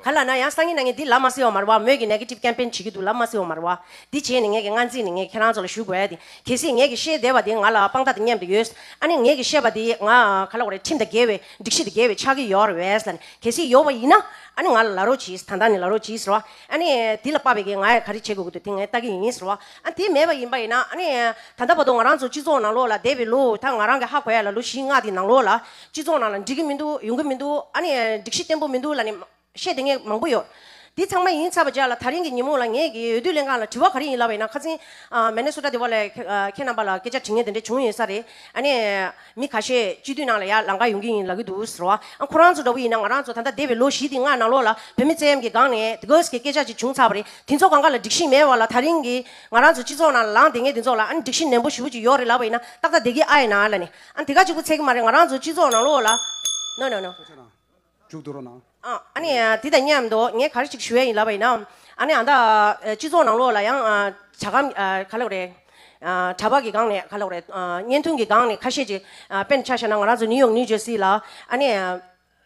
Speaker 5: ག་ལ་ན་ཡང་སང་ཉིན་ན་ངས་འདི་ལབ་མ་སེ་ཨོ་མར་བ་མོས་ཀྱི Negative Campaign བྱེད་ཀྱི་འདུག་ལབ་མ་སེ་ཨོ་མར་བ། འདི་བྱས་ནས་ངས་ཀྱི་སྔ་རྗེས་ནས་ངས་ཁྱེད་རང་ཚོ་ལ་ཞུ་དགོས་ཏེ། གལ་སྲིད་ངས་ཀྱི་བཤད་བསྡད་པ་དེ་ང་ལ་དཔང་རྟགས་དེ་ཉམས་དེ་ཡོད། ཨ་ནི་ངས་ཀྱི་བཤད་པ་དེ་ང་ག་ལ་བརེད་ཁྲིམས་དང་འགལ་བའི་སྒྲིག་གཞི་དང་འགལ་བའི་ཆགས་ཀྱི་ཡོད་རེད་ལ་ནི་གལ་སྲིད་ཡོད་པ་ཡིན་ན་ཨ་ནི་ང་ལ་ལ་རོགས་གྱིས་ད་ལྟ་ནས་ལ་རོགས་གྱིས་ཟེར་བ། ཨ་ནི་དེ་ལ་དཔག་པའི་གི་ང་ཡང་ག་རེ་བྱེད་དགོས་ཀྱི་འདུག་དེ་ངས་བལྟ་གི་ཡིན་ཟེར་བ། དེ་མེད་པ་ཡིན་པ་ཡིན་ན་ནི། ད་ལྟ་བར་དུ་ང་རང་ཚོ་སྤྱི་ཚོགས་ནང་ལོགས་ལ་བསྡད་པའི་ལོ་ད་ང་རང་གི་ཧ་གོ་ཡ་ལ་ལོ་བཞི་ལྔ་དེ་ནང་ལོགས་ལ། སྤྱི་ཚོགས་ནང་ལ་འགྲིག་གི་མི་འདུག་ཡོང་གི་མི་འདུག་ནི། སྒྲིག་གཞི་བརྟན་པོ་མི་འདུག་ལ་ནི། བཤད་དེ་ངས་མང་པོ་ཡོད། དེ་ཚང་མ་ཡིན་ཚར་བ་བརྒྱ་ལ་ཐག་རིང་གི་ཉིན་མོ་ལ་ངས་ཀྱི་འོས་བསྡུ་ལས་འགངས་ལ་དྲི་བ་ག་རེ་ཡིན་ལབ་པ་ཡིན་ན་ཁ་ཚིན། མེ་ནེ་སོ་ཏྲ་དེ་བ་ལས་ཁྱེད་རྣམ་པ་ལ་སྐད་ཆ་དྲི་ངེས་དེ་འདྲས་བྱུང་ཡོད་ས་རེད་ཨ་ནི། མི་ཁ་ཤས་སྤྱི་འཐུས་ནང་ལ་ཡར་ལངས་ཀ་ཡོང་གི་ཡིན་ལབ་ཀྱི་འདུག་ཟེར་བ། ཨ་ཁོ་རང་ཚོ་འདྲ་བོ་ཡིན་ན་ང་རང་ཚོ་ད་ལྟ་འདས་པའི་ལོ་བཞི་སྟེང་ལྔ་ནང་ལོགས་ལ་བོད་མི་བཙན་གཡེམ་གྱི་སྒང་ནས་དགའ་བསུ་གི་སྐད་ཆ་ཅིག་བྱུང་ཚར་བ་རེད་དེ་ཚོ་གང་ག་ལ་འགྲིག་ཤིང་མེད་བ་ལ་ཐག་རིང་གི་ང་རང་ཚོ་སྤྱི་ཚོགས་ནང་ལ་ལངས་དེ་ངས་དེ་ཚོ་ལ་ཨ་ནི་སྒྲིག་ཤིང་ནན་པོ་ཞུ་བོ་ཅིག་ཡོག་རེད་ལབ་པ་ཡིན་ན་ཏག་ཏག་བསྡད་ཀྱི་ཨ་ཡེ་ན་ལ་ནི་ཨ་ནི་དེ་ག་ཅིག་པོ་ཚད་ཀྱི་མ་རེད་ང་རང་ཚོ་སྤྱི་ཚོགས་ནང་ལོགས་ལ། འཇུག་ཏུ་
Speaker 2: རོ་ན།
Speaker 5: དེ་དང་མཉམ་དུ་ངས་ག་རེ་ཞིག་ཞུ་ཡ་ཡིན་ལབ་པ་ཡིན་ན། ཨ་ན། སྤྱི་ཚོགས་ནང་ལོགས་ལ་ཡང། བྱ་སྒམ་ག་ལ་བ་རེད། གྲྭ་པ་གི་སྒང་ནས་ག་ལ་བ་རེད། བརྙན་ཐུང་གི་སྒང་ནས་ཁ་ཤས་ཀྱི་དཔེ་འདི་ཆ་ཤ་ན་ང་རང་ཚོ་ནིའུ་ཡོག་ནིའུ་ཇེར་སི་ལ། ཨ་ནས།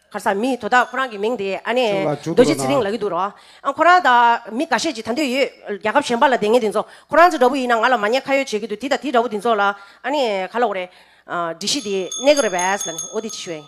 Speaker 5: གར་ས་མི་དོ་བདག་ཁོ་རང་གི་མིང་དེ་ཨ་ནས། རྡོ་རྗེ་ཚེ་རིང་ལགས་ཡིན་འདུག་རོ། ཁོ་རང་དང་མི་ག་ཤས་ཀྱི་ད་འདོད་ཡོད། རྒྱལ་ཁབ་གཞན་པ་ལ་བསྡད་ངེས་དེ་ཚོ། ཁོ་རང་ཚོ་འདྲ་བོ་ཡིན་ན་ང་ལ་མ་ཉེས་ཁ་ཡོད་བྱེད་ཀྱི་འདུག་དེ་དང་དེ་འདྲ་བོ་དེ་ཚོ་ལ་ཨ་ནས་ག་ལ་བ་རེད། སྒྲིག་གཞི་དེ་གནས་གི་རེད་བས། ལ་ནི་འོ་དེ་ཅི་ཞུ་ཡ་ཡིན།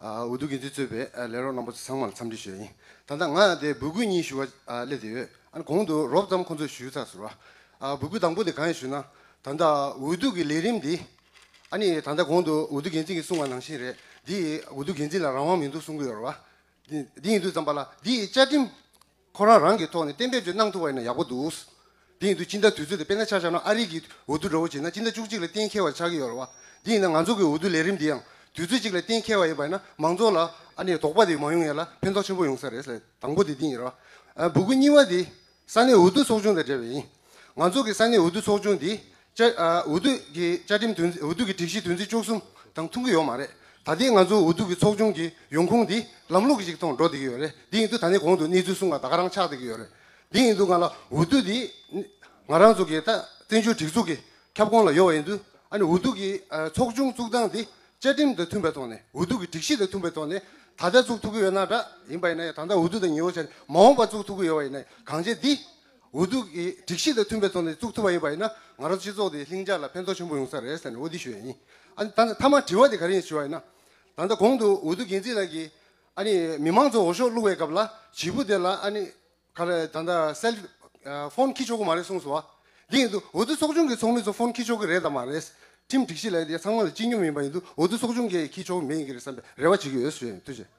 Speaker 6: འོས་བསྡུ་འགན་འཛིན་གཙོས་པའི་ལས་རོགས་རྣམ་པ་ཚང་མ་ལ་འཚམས་འདྲི་ཞུ་ཡ་ཡིན། ད་ལྟ་ང་དེ་འབོད་སྐུལ་གཉིས་ཞུ་བ་སླེབས་ཏེ་ཡོད། ཨ་ནི་གོང་དུ་རོབ་ཙམ་ཁོང་ཚོས་ཞུས་ཚགས་ཟེར་བ། འབོད་སྐུལ་དང་པོ་དེ་གང་ཡིན་ཞུས་ན། ད་ལྟ་འོས་བསྡུ་གི་ལས་རིམ་འདི། ཨ་ནི་ད་ལྟ་གོང་དུ་འོས་བསྡུ་འགན་འཛིན་གྱིས་གསུངས་བ་ནང་བཞིན་རེད། འདི་འོས་བསྡུ་འགན་འཛིན་ལ་རང་དབང་མི་འདུག་གསུང་གི་ཡོད་རེད་བ། འདི་ཡིན་དུས་ཙམ་པ་ལ་འདིའི་བཅའ་ཁྲིམས། ཁོ་རང་རང་གི་ཐོག་ནས་གཏན་འབེབས་ཅིག་གནང་ཐུབ་པ་ཡིན་ན་ཡག་པོ་འདུག། དེ་ཡིན་དུས་སྤྱི་ཟླ་དུས་ཚོད་དེ་དཔེར་ན་ཆ་བཞག་ན་ཨ་རིག་གིས་འོས་བསྡུ་འདྲ་བོ་བྱེད་ན་སྤྱི་ཟླ་བཅུ་གཅིག་ལ་གཏན་འཁེལ་བ་ཆགས་ཀྱི་ཡོད་ལ་བ། དེ་ཡིན་ན་ང་ཚོ་གི་འོས་བསྡུ་ལས་རིམ་དེ་ཡང་དུས་ཚོད་གཅིག་ལ་གཏན་འཁེལ་བ་ཡིན་པ་ཡིན་ན་མང་ཚོགས་ལ་ཨ་ནེ་དོགས་པ་དེ་མ་ཡོང་ཡས་ལ་ཕན་ཐོགས་ཆེན་པོ་ཡོང་ས་རེད། དང་པོ་དེ་དེ་ཡིན་ར་བ། སྦུ་གུ་གཉིས་བ་དེ་ས་གནས་འོས་བསྡུ་ཚོགས་ཆུང་དང་འབྲེལ་བ་ཡིན། ང་ཚོ་གི་ས་གནས་འོས་བསྡུ་ཚོགས་ཆུང་འདི། བཅའ། འོས་བསྡུ་གི་བཅའ་ཁྲིམས་དོན་འོས་བསྡུ་གི་སྒྲིག་གཞི་དོན་ཚན་བཅུ་གསུམ་དང་མཐུན་གྱི་ཡོད་མ་རེད། ད་ལྟའི་ང་ཚོ་འོས་བསྡུ་གི་ཚོགས་ཆུང་གི་ཡོང་ཁུངས་འདི་ལམ་ལུགས་ཤིག་ཐོག་འགྲོ་བསྡད་ཀྱི་ཡོད་རེད། དེ་ཡིན་དུས་ད་ནི་གོང་དུ་གནས་ཚུལ་གསུངས་ལ་ད་ག་རང་ཆགས་བསྡད་ཀྱི་ཡོད་རེད། དེ་ཡིན་དུས་ང་ལ་འོས་བསྡུ་འདི། ང་རང་ཚོ་གི་ད་བཙན་བྱོལ་སྒྲིག་འཛུགས་ཀྱི་ཁྱབ་ཁོངས་ལ་ཡོད་པ་ཡིན་དུས། ཨ་ནི་འོས་བསྡུ་གི་ཚོགས་ཆུང་བཙུགས་སྟངས་འདི། བཅའ་ཁྲིམས་དང་མཐུན་པའི་ཐོག་ནས་འོས་བསྡུ་གི་སྒྲིག་གཞི་དང་མཐུན་པའི་ཐོག་ནས་ད་ལྟ་བཙུགས་ཐུབ་ཀྱི་ཡོད་ན་འདྲ་ཡིན་པ་ཡིན་ན་ཡང་ད་ལྟ་འོས་བསྡུ་དང་ཉི་འོད་ཆར་མ་འོངས་པར་བཙུགས་ཐུབ་ཀྱི་ཡོད་པ་ཡིན་ན་ཡང་གང་ཆེ་འདི། འོས་བསྡུ་གི་སྒྲིག་གཞི་དང་མཐུན་པའི་ཐོག་ནས་བཙུགས་ཐུབ་པ་ཡིན་པ་ཡིན་ན་ང་རང་ཚོ་སྤྱི་ཚོགས་དེ་ལྷིང་འཇགས་ལ་ཕན་ཐོགས་ཆེན་པོ་ཡོང་ས་རེད་ཟེར་ནས་འོས་བསྡུ་ཞུས་ཡས་ཡིན། ཨ་ནི་ད་མཐའ་མར་དྲི་བ་དེ་ག་རེ་ཞུ་བ་ཡིན་ན། ད་ལྟ་གོང་དུ་འོས་བསྡུ་འགན་འཛིན་ལགས་ཀྱིས་ཨ་ནི་མི་མང་ཚོ་འོ་ཞོག་བླུགས་བའི་སྐབས་ལ་བྱིས་པོ་དེ་ལ་ཨ་ནི་ག་ལ་ད་ལྟ་སེལ་ཧྥོན་ཁྱི་ཆོག་གི་མ་རེད་གསུངས་སོང་བ། དེ་ཡིན་དུས་འོས་བསྡུ་ཚོགས་ཆུང་གི་ཚོགས་མི་ཚོ་ཧྥོན་ཁྱི་ཆོག་གི་རེད་དམ་མ་རེད། ཁྲིམས་སྒྲིག་གཞི་ལས་དེ་ཚང་མ་ལ་སྤྱི་སྙོམས་ཡིན་པ་ཡིན་དུས་འོས་བསྡུ་ཚོགས་ཆུང་གི་ཁྱི་ཆོག་མེད་ཡིན་གྱི་རེད་བསམ་པའི་རེ་བ་བྱེད་ཀྱི་ཡོད་བཟོ་ཡས་ཡིན་ཐུགས་རྗེ།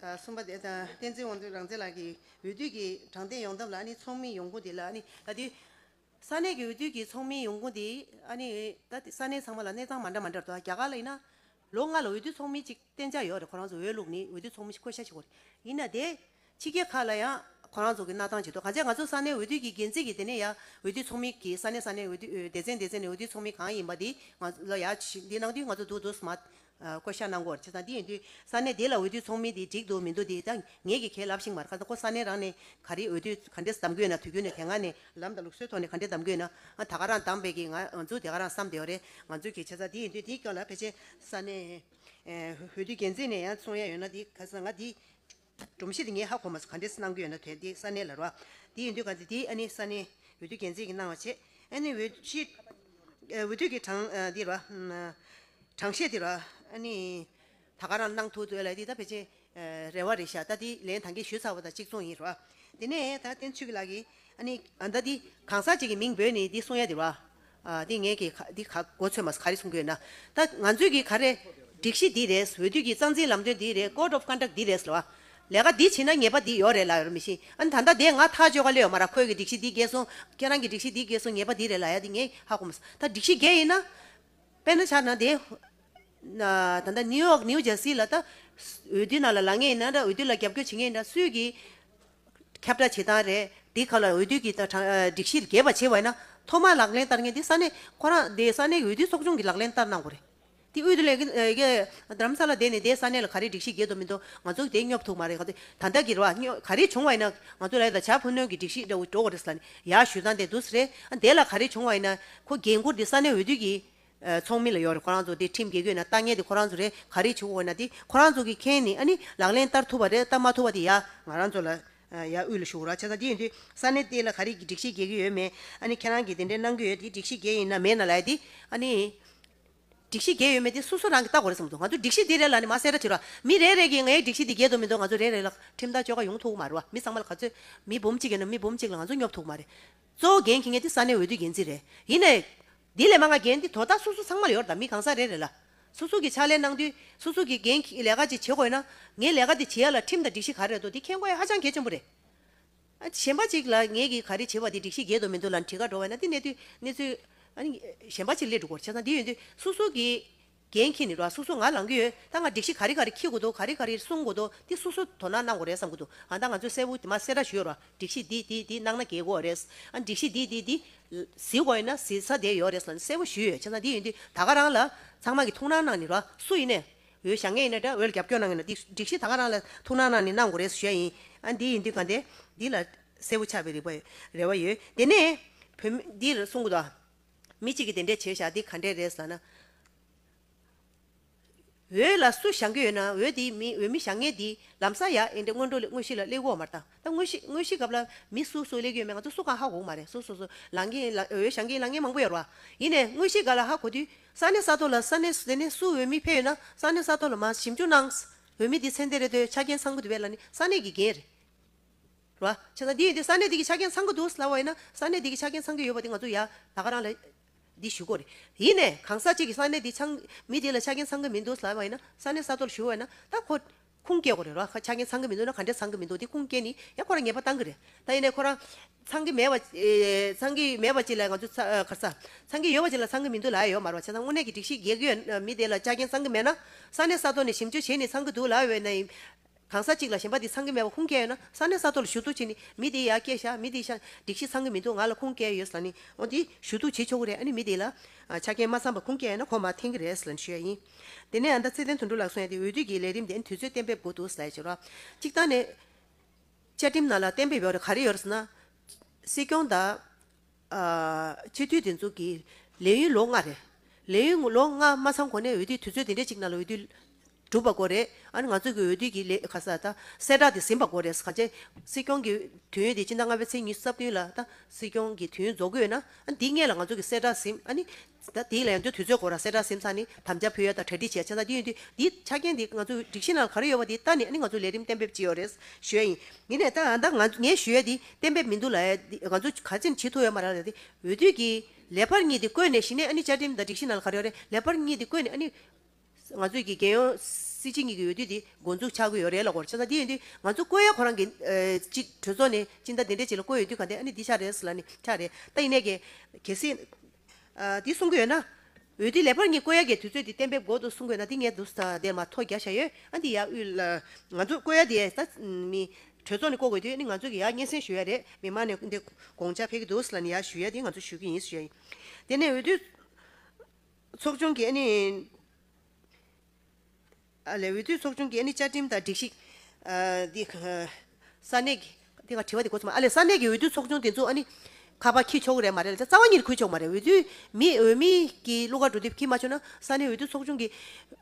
Speaker 1: གསུམ་པ། བསྟན་འཛིན་དབང་འདུས་རང་བཙན་ལགས་ཀྱིས་འོས་བསྡུ་གི་དྲང་བདེན་ཡོང་ཐབས་ལ་ཚོགས་མི་ཡོང་ཁུངས་དེ་ལ་ད་ལྟའི་ས་གནས་ཀྱི་འོས་བསྡུ་གི་ཚོགས་མི་ཡོང་ཁུངས་དེ་ད་ལྟའི་ས་གནས་ཚང་མ་ལ་གནས་ཚང་མ་འདྲ་མ་འདྲ་འདུག་རྒྱ་གར་ལ་ཡིན་ན་ལོ་ལྔ་ལ་འོས་བསྡུ་ཚོགས་མི་གཅིག་གཏན་འཇགས་ཡོད་རེད་ཁོ་རང་ཚོ་འོས་བླུགས་ནས་འོས་བསྡུ་ཚོགས་མི་བསྐོ་བཞག་བྱེད་དགོས་རེད་ཡིན་ན་དེ་ཕྱི་རྒྱལ་ཁག་ལ་ཡང་ཁོ་རང་ཚོ་གི་གནའ་ཐང་བྱེད་དོ་གང་ཆ་ང་ཚོ་ས་གནས་འོས་བསྡུ་གི་འགན་འཛིན་གི་དེ་ནས་ཡ་འོས་བསྡུ་ཚོགས་མི་གི་ས་གནས་ས་གནས་འོས་བསྡུ་སྡེ་ཚན་སྡེ་ཚན་ནས་འོས་བསྡུ་ཚོགས་མི་གང་ཡིན་པ་དེ་ང་ལ་ཡ་འདི་ནང་དུ་ང་ཚོ་འདུག་འདུག་སྨྲ་བསྐོ་བཞག་གནང་སྐོར་བྱས་ཙང་དེ་ཡིན་དུས་ས་གནས་དེ་ལ་འོས་བསྡུའི་ཚོགས་མི་དེ་འགྲིག་འདུག་མི་འདུག་དེ་ད་ངེད་ཀྱིས་ཁས་ལབ་ཤིང་མར་ཁ་ཙང་ཁོ་ས་གནས་རང་ནས་ག་རེའི་འོས་བསྡུའི་ག་འདྲེ་བདམས་དགོས་ན་དུས་རྒྱུན་ནས་དེ་སྔ་ནས་ལམ་དང་ལུགས་སྲོལ་ཐོག་ནས་ག་འདྲེ་བདམས་དགོས་ན་ད་ག་རང་བདམས་བས་ཀྱི་ང་ཚོས་དེ་ག་རང་བསམ་དེ་བ་རེད་ང་ཚོས་ཀྱིས་བྱས་ཙང་དེ་ཡིན་དུས་དེའི་སྐྱོན་ལ་ཕལ་ཆེར་ས་གནས་འོས་བསྡུའི་འགན་འཛིན་ནས་ཡང་གསུང་ཡས་ཡོད་ན་དེ་ག་ས་ང་དེའི་སྒྲོམ་གཞི་དེ་ངས་ཧ་གོ་མ་སོང་ག་འདྲས་གནང་རྒྱུ་ཡོད་ན་དེ་དེ་ས་གནས་ལ་རོགས། དེ་ཡིན་དུས་ག་འདྲས་དེ་ཨ་ནི་ས་གནས་འོས་བསྡུ་འགན་འཛིན་གྱིས་གནང་བ་བྱེད། ཨ་ནི་འོས་གཞི། འོས་བསྡུ་གྱི་གྲངས་འདི་རོ། གྲངས་བཤད་འདི་རོ། ཨ་ནི། ད་ག་རང་གནང་ཐུག་འདོད་ལ་འདི་ད་ཕལ་ཆེར། རེ་བ་རེད་ཤག་ད་འདི་ལན་ད་གིས་ཞུས་ཚར་བ་དང་གཅིག་མཚུངས་ཡིན་རོགས། དེ་ནས་ད་བསྟན་ཆོས་སྐྱིད་ལགས་ཀྱིས། ཨ་ནི། ད་འདི་གང་ཟག་ཅིག་གི་མིང་འབོད་ནས་འདི་གསུང་ཡ་འདི་རོ། འདི་ངས་ཀྱི་འདི་ག་གོ་ཚོད་མ་ག་རེ་གསུང་གི་ཡོད་ན། ད་ང་ཚོས་ཀྱི་ག་རེ། སྒྲིག་གཞི་འདི་རེད་འོས་བསྡུ་གྱི་རྩ་འཛིན་ལམ་སྟོན་འདི་རེད Code of Conduct འདི་རེད་ལ། ལས་ཀ་འདི་བྱེད་ན་ཉེས་པ་འདི་ཡོད་རེད་ལ་ཡོད་མི་ཤེས། ཨ་ནི་ད་ལྟ་དེ་ང་ཐག་གཅོད་ག་ལེ་ཡོད་མ་ར་ཁོས་ཀྱི་སྒྲིག་གཞི་འདི་འགལ་སོང། ཁྱེད་རང་གྱི་སྒྲིག་གཞི་འདི་འགལ་སོང་ཉེས་པ་འདི་རེད་ལ་ཡ་འདི་ངས་ཧ་གོ་མ་སོང། ད་སྒྲིག་གཞི་འགལ་ཡིན་ན། དཔེར་ན་ཆ་ན་དེ། ད་ལྟ New York New Jersey ལ་ད། འོས་བསྡུ་ནང་ལ་ལག་ངེས་ཡིན་ན་འོས་བསྡུ་ལ་རྒྱབ་སྐྱོར་བྱེད་ངེས་ཡིན་ན་སུས་ཀྱི། ཁྱབ་བསྒྲགས་བྱེད་སྟངས་རེད། དེའི་ཁག་ལ་འོས་བསྡུ་གྱི་སྒྲིག་གཞིར་རྒྱས་པ་ཆེ་བས་ན། ཐོག་མར་ལག་ལེན་བསྟར་མཁན་དེ་ས་གནས། ཁོ་རང་དེ་ས་གནས་ཀྱི་འོས་བསྡུའི་ཚོགས་ཆུང་གིས་ལག་ལེན་བསྟར་གནང་དགོས་རེད། དེ་དབུས་དུ་ལས། རྡ་རམ་ས་ལ་བསྡད་ནས་དེ་ས་གནས་ལ་ག་རེ་སྒྲིག་གཞི་རྒྱས་འདུག་མི་འདུག་ང་ཚོ་དེ་སྙོབ་ཐུབ་མ་རེད། ད་ལྟ་གི་རོ་ག་རེ་བྱུང་བ་ཡིན་ན། ང་ཚོ་ལ་ད་ཆ་ཕུ་ནུ་གྱི་སྒྲིག་གཞི་འདྲ་བོ་འགྲོ་གི་རེད་ཟེར་ནས་ཡར་ཞུས་སྟངས་དེ་འདུག་རེད། དེ་ལ་ག་རེ་བྱུང་བ་ཡིན་ན། ཁོ་རྒན་བཀུར་དེ་ས་གནས་འོས་བསྡུ་གྱིས། ཚོགས་མི་ལ་ཡོད་རེད་ཁོ་རང་ཚོ་དེ་ཁྲིམས་འགལ་གྱོད་ན་ལྟ་ངན་དེ་ཁོ་རང་ཚོ་རེད་ག་རེ་བྱེད་འོ་ན་དེ་ཁོ་རང་ཚོ་གི་མཁན་ནི་ཨ་ནི་ལག་ལེན་བསྟར་ཐུབ་པ་རེད་བསྟར་མ་ཐུབ་པ་དེ་ཡ། ང་རང་ཚོ་ལ་ཡ་དབུས་ལ་ཞུགས་རོགས་བྱས་ཙང་དེ་ཡིན་དུས་ས་གནས་དེ་ལ་ག་རེ་གི་སྒྲིག་གཞི་འགལ་གྱི་ཡོད་མེད་ཨ་ནི་ཁྱེད་རང་གི་དེ་འདྲའི་གནང་གྱི་ཡོད་དེ་སྒྲིག་གཞི་འགལ་ཡིན་ན་མེད་ན་ལ་ཡ་དེ་ཨ་ནི། སྒྲིག་གཞི་འགལ་ཡོད་མེད་དེ་སོ་སོ་རང་གི་བལྟ་དགོས་རེད་བསམ་མདོག་ང་ཚོ་སྒྲིག་གཞི་འདི་རེད་ལ་ནི་མ་གསལ་ར་བྱེད་རོགས་མི་རེ་རེ་གི་ངའི་སྒྲིག་གཞི་འདི་འགལ་འདུག་མི་འདུག་ང་ཚོ་རེ་རེ་ལ་ཁྲིམས་ཐག་གཅོད་ཁ་ཡོང་ཐུག་གི་མ་རེད་བ་མི་ཚང་མ་ལ་ག་ཚོད་མི་འབུམ་གཅིག་ཡོད་ན་མི་འབུམ་གཅིག་ལ་ང་ཚོ་སྙོབ་ཐུབ་གི་མ་རེད། གཙོ་བོ་རྒན་གྱི་ངེད་འདི་ས་གནས་འོས་བསྡུའི་འགན་འཛིན་རེད། ཡིན་ནའི། འདི་ལས་མ་ང་འགན་འདི་དོ་བདག་སུ་སུ་ཚང་མ་ཡོར་དང་མི་གང་ཟག་རེ་རེ་ལ། སུ་སུ་གི་ཕྱག་ལས་གནང་དུས་སུ་སུ་གི་འགན་གྱི་ལས་ཀ་ཅིག་བྱེད་དགོས་ན། ངས་ལས་ཀ་འདི་བྱེད་ཡ་ལ་ཁྲིམས་དང་སྒྲིག་གཞི་ག་རེ་རེད་དོ་འདི་མཁྱེན་དགོས་ཡ་ཧ་ཅང་གལ་ཆེན་པོ་རེད། གཞན་པ་ཅིག་ལ་ངེད་ཀྱི་ག་རེ་བྱེད་པ་འདི་སྒྲིག་གཞི་འགལ་འདུག་མི་འདུག་ལ་འདྲི་ཁ་འགྲོ་བ་ཡིན་ན་འདི་གནས་དུས་གནས་ཚུལ། གཞན་པ་ཅིག་ལས་སྒྲུབ་སྐོར་བྱས་ཙང་འདི་ཡོད་དུས་སུ་སུ་གི། རྒན་ཁྱེད་ནི་ར་སོ་སོ་ང་ལང་གི་ཡོད་ད་ང་སྒྲིག་གཞི་ག་རེ་ག་རེ་ཁྱི་དགོས་འདུག་ག་རེ་ག་རེ་གསུང་དགོས་འདུག་འདི་སོ་སོ་དོ་སྣང་གནང་དགོས་རེད་བསམ་གི་འདུག་ཨ་ད་ང་ཚོས་གསལ་བོ་དེ་མ་སེ་ར་ཞུ་ཡོད་ར་སྒྲིག་གཞི་འདི་འདི་འདི་གནང་ན་དགེ་གོ་རེད་ཨ་སྒྲིག་གཞི་འདི་འདི་འདི། བཟི་དགོས་ཡིན་ན་བཟི་ས་དེ་ཡོད་རེད་ལ་གསལ་བོ་ཞུ་ཡོད་བྱས་ཙང་འདི་ཡིན་འདི་ད་ག་རང་ལ་ཚང་མ་གི་ཐུགས་སྣང་གནང་ནི་ར་སུ་ཡིན་ནས་འོས་ཞག་ངས་ཡིན་ནས་དྲ་བའི་རྒྱབ་སྐྱོར་གནང་གི་འདུག་འདི་སྒྲིག་གཞི་ད་ག་རང་ལ་ཐུགས་སྣང་གནང་ནི་གནང་དགོས་རེད་ཞུ་ཡ་ཡིན་ཨ་འདི་ཡིན་འདི་ག་འདི་འདི་ལ་གསལ་བོ་ཆགས་པའི་རིག་པ་རེ་བ་ཡོད་དེ་ནས་བུད་མེད་འདི་གསུང་གི་འདུག་ཨ། མི་གཅིག་གིས་དེ་འདྲས་བྱས་ཞག་འདི་ག་འདྲས་རེད་ཟ་ན། འོད་ལ་སུ་བཞག་གི་ཡོད་ན་འོད་དེའི་མི་འོད་མི་བཞག་ངེས་འདི་ལམ་ས་ཡ་ཨེ་འདྲས་སྔོན་འགྲོ་ལས་དངོས་གཞི་ལ་སླེབས་འོག་མར་ད་ད་དངོས་གཞི་དངོས་གཞི་སྐབས་ལ་མི་སུ་སུ་སླེབས་ཀྱི་ཡོད་མེད་ང་ཚོ་སུ་གང་ཧ་གོ་གི་མ་རེད་སུ་སུ་སུ་ལང་གི་ལ་འོད་བཞག་གི་ལ་ངན་མང་པོ་ཡོད་རེད་བ། ཡིན་ནས་དངོས་གཞི་ག་ལ་ཧ་གོ་དུས་ས་གནས་ས་ཐོག་ལ་ས་གནས་དེ་ནས་སུ་འོད་མི་ཕེབས་ཡོད་ན་ས་གནས་ས་ཐོག་ལ་མ་ཞིབ་འཇུག་གནང། འོད་མི་འདི་ཚེ་འདས་རེད་འདོད་ཆ་རྐྱེན་ཚང་པོ་འདི་བས་ལ་ནི་ས་གནས་ཀྱི་འགན་རེད། ར། བྱས་ན་འདི་ཡིན་ཏེ་ས་གནས་དེ་གི་ཆ་རྐྱེན་ཚང་གི་འདུག་སླ་བ་ཡིན་ན་ས་གནས་དེ་གི་ཆ་རྐྱེན་ཚང་གི་ཡོད་པ་དེ་ང་ཚོ་ཡ་ད་ག་རང་ལ་འདི་ཞུ་དགོས་རེད་ཡིན་ནས་གང་ཟག་གཅིག་གི་ས་གནས་དེ་ཆང་མི་དེ་ལ་ཆ་རྐྱེན་ཚང་གི་མི་འདུག་སླ་བ་ཡིན་ན་ས་གནས་ས་མཐོ་ལ་ཞུ་བ་ཡིན་ན་ད་ཁོ་ཁུངས་སྐྱེལ་དགོས་རེད་ར་ཆ་རྐྱེན་ཚང་གི་མི་འདུག་ན་ག་འདྲས་ཚང་གི་མི་འདུག་དེ་ཁུངས་སྐྱེལ་ནི་ཡ་ཁོ་རང་ངེས་པ་གཏང་གི་རེད་ད་ཡིན་ནས་ཁོ་རང་ཚང་གི་མེད་པ་ཚང་གི་མེད་པ་གཅིག་ལ་ང་ཚོ་ག་ས་ཚང་གི་ཡོད་པ་གཅིག་ལ་ཚང་གི་མི་འདུག་ལ་ཡོད་མ་རེད་བ་བྱས་ན་དངོས་གནས་ཀྱི་སྒྲིག་གཞི་གེགས་ཡོད་མི་དེ་ལ་ཆ་རྐྱེན་ཚང་གི་མེད་ན་ས་གནས་ས་མཐོ་ནས་ཞིབ་འཇུག་བྱས་ནི་ཚང་གི་འདུག་ལ་ཡོད་ན་ཡིན། གང་ཟག་གཅིག་ལ་གཞན་པ་འདི་ཚང་གི་མེད་པ་ཁུངས་སྐྱེལ་ཡོད་ན་ས་གནས་ས་ཐོག་ལ་ཞུ་གཏུག་བྱས་ནས་མི་དེའི་ཡ་སྐྱེལ་བཞག་མི་དེའི་ཤ་སྒྲིག་ཤི་ཚང་གི་མི་འདུག་ང་ལ་ཁུངས་སྐྱེལ་ཡོད་ལ་ནི་འོ་དེ་ཞུ་གཏུག་བྱེད་ཆོག་གི་རེད་ཨ་ནི་མི་དེ་ལ་ཆ་རྐྱེན་མ་ཚང་པ་ཁུངས་སྐྱེལ་ཡོད་ན་ཁོ་མ་འཐེན་གི་རེད་ལ་ནི་ཞུ་ཡ་ཡིན། དེ་ནས་ཨ་མདའ་ཚེ་བརྟན་དོན་འགྲུབ་ལགས་སུ་ཡང་དེ་འོས་བསྡུ་གི་ལས་རིམ་དེ་ནི་དུས་ཚོད་གཏན་འབེབས་དགོས་འདུག་ཟེར་བྱས་རོགས་གཅིག་བཏང་ནས། བཅའ་ཁྲིམས་ནང་ལ་གཏན་འབེབས་ཡོད་རེད་ག་རེ་ཡོད་རེད་ཟེར་ན། སྲིད་སྐྱོང་དང། སྤྱི་འཐུས་འདི་ཚོ་གི་ལས་ཡུན་ལོ་ལྔ་རེད། ལས་ཡུན་ལོ་ལྔ་མ་ཚང་གོང་ནས་འོས་བསྡུ་དུས་ཚོད་དེ་འདྲའི་གཅིག་ནང་ལ་འོས་བསྡུ་གྲུབ་པ་དགོས་རེད། ཨ་ནི་ང་ཚོ་གི་འོས་བསྡུ་གི་ལས་ཁ་ས་ད་གསལ་བསྒྲགས་དེ་ཟིན་པ་དགོས་རེད། གང་བྱས་སྲིད་སྐྱོང་གི་དུས་ཡུན་དེ་སྤྱི་ཟླ་ལྔ་པའི་ཚེས་ཉི་རྩ་བདུན་ལ་ད་སྲིད་སྐྱོང་གི་དུས་ཡུན་རྫོགས་གི་ཡོད་ན། ཨ་ནི་འདི་སྔས་ལ་ང་ཚོ་གི་གསལ་བསྒྲགས་ཟིན། ཨ་ནི། ཟླ་འདིའི་ལས་དོན་དུས་ཚོད་འགོར་ར་སེ་བཀྲ་སེམས་ས་ནི་དམ་བཅའ་ཕུལ་ཡ་དང་གྲ་སྒྲིག་བྱས་ཆ་ཚ་དེ་ཡིན་དུས་འདིའི་ཆ་རྐྱེན་འདི་ང་ཚོའི་སྒྲིག་གཞི་ནང་ག་རེ་ཡོད་པ་དེ་ལྟ་ནས་ནི་ང་ཚོ་ལས་རིམ་གཏན་འབེབས་བྱེད་ཡོད་རེད་ཞུ་ཡ་ཡིན་ཡིན་ནས་ད་ད་ང་ངས་ཞུ་ཡ་དེ་གཏན་འབེབས་མི་འདུག་ལ་ཡ་དེ་ང་ཚོ་ག་ཅིར་བྱེད་ཐུབ་ཡོད་མ་རེད་ལ་ཡ་དེ་འོས་བསྡུ་གི་ལས་འཕར་གཉིས་དེ་བཀོད་ནས་གཞི་ནས་ཨ་ནི་བཅའ་ཁྲིམས་དང་སྒྲིག་གཞི་ནང་ག་རེ་ཡོད་རེད་ལས་འཕར་གཉིས་དེ་བཀོད་ནས་ཨ་ནི། ང་ཚོས་ཀྱི་རྒྱལ་ཡོངས་སྲིད་སྤྱི་གཉིས་ཀྱི་འོས་བསྡུ་དེ་འགོ་འཛུགས་ཆགས་ཀྱི་ཡོད་རེད་ལ་གོར་ཆགས་ས་འདི་ཡིན་དུས་ང་ཚོ་བསྐོས་ཡ་ཁོ་རང་གི་གཅིག་གྲོས་ཚོགས་ནས་གཅིག་མདའ་དེ་འདྲས་གཅིག་ལ་བསྐོས་ཡོད་དུས་ག་འདི་ཨ་ནི་འདི་ཆགས་རེད་ཟེར་ལ་ནི་ཆགས་རེད་ད་ཡིན་ནའི་གལ་སྲིད་འདི་གསུང་གི་ཡོད་ན། འོས་བསྡུ་ལས་པར་གཉིས་བསྐོས་ཡ་གའི་དུས་ཚོད་དེ་གཏན་འབེབས་འགོ་དུ་གསུང་གི་ཡོད་ན་འདི་ངས་དུས་ད་ལྟའི་མ་ཐོག་བརྒྱ་བཞག་ཡོད་ཨ་འདི་ཡ་དབུས་ལ་ང་ཚོ་བསྐོས་ཡ་དེ་ད་ནི་གྲོས་ཚོགས་ནས་བསྐོ་དགོས་དུས་ཨ་ནི་ང་ཚོས་ཀྱི་ཡ་སྙན་སེང་ཞུ་ཡ་རེད་མི་མང་ནས་འདི་དགོངས་འཇགས་འཕེལ་གྱི་འདུག་ཟེར་ལ་ནི་ཡ་ཞུ་ཡ་དེ་ང་ཚོ་ཞུ་གི་ཡིན་ཟེར་ཡ་ཡིན་དེ་ནས་འོས་བསྡུ། ཚོགས་ཆུང་གི་ཨ་ནི། འོས་བསྡུའི་ཚོགས་ཆུང་གི་ཨ་ནི་བཅའ་ཁྲིམས་དང་སྒྲིག་གཞི། ས་གནས་ཀྱི། དེ་ག་དྲི་བ་དེ་གོ་ཚོད་མ་ཨ་ལས་ས་གནས་ཀྱི་འོས་བསྡུའི་ཚོགས་ཆུང་དེ་ཚོ་ཨ་ནི། ཁ་པར་ཁྱི་ཆོག་གི་རེད་མ་རེད་ལ་རྩ་བ་ཉིད་ཁུར་ཆོག་མ་རེད་འོས་བསྡུའི་མི་འོས་མི་གྱི་གླུ་གར་འགྲོ་དུས་ཁྱི་མ་ཆོག་ན་ས་གནས་འོས་བསྡུའི་ཚོགས་ཆུང་གི།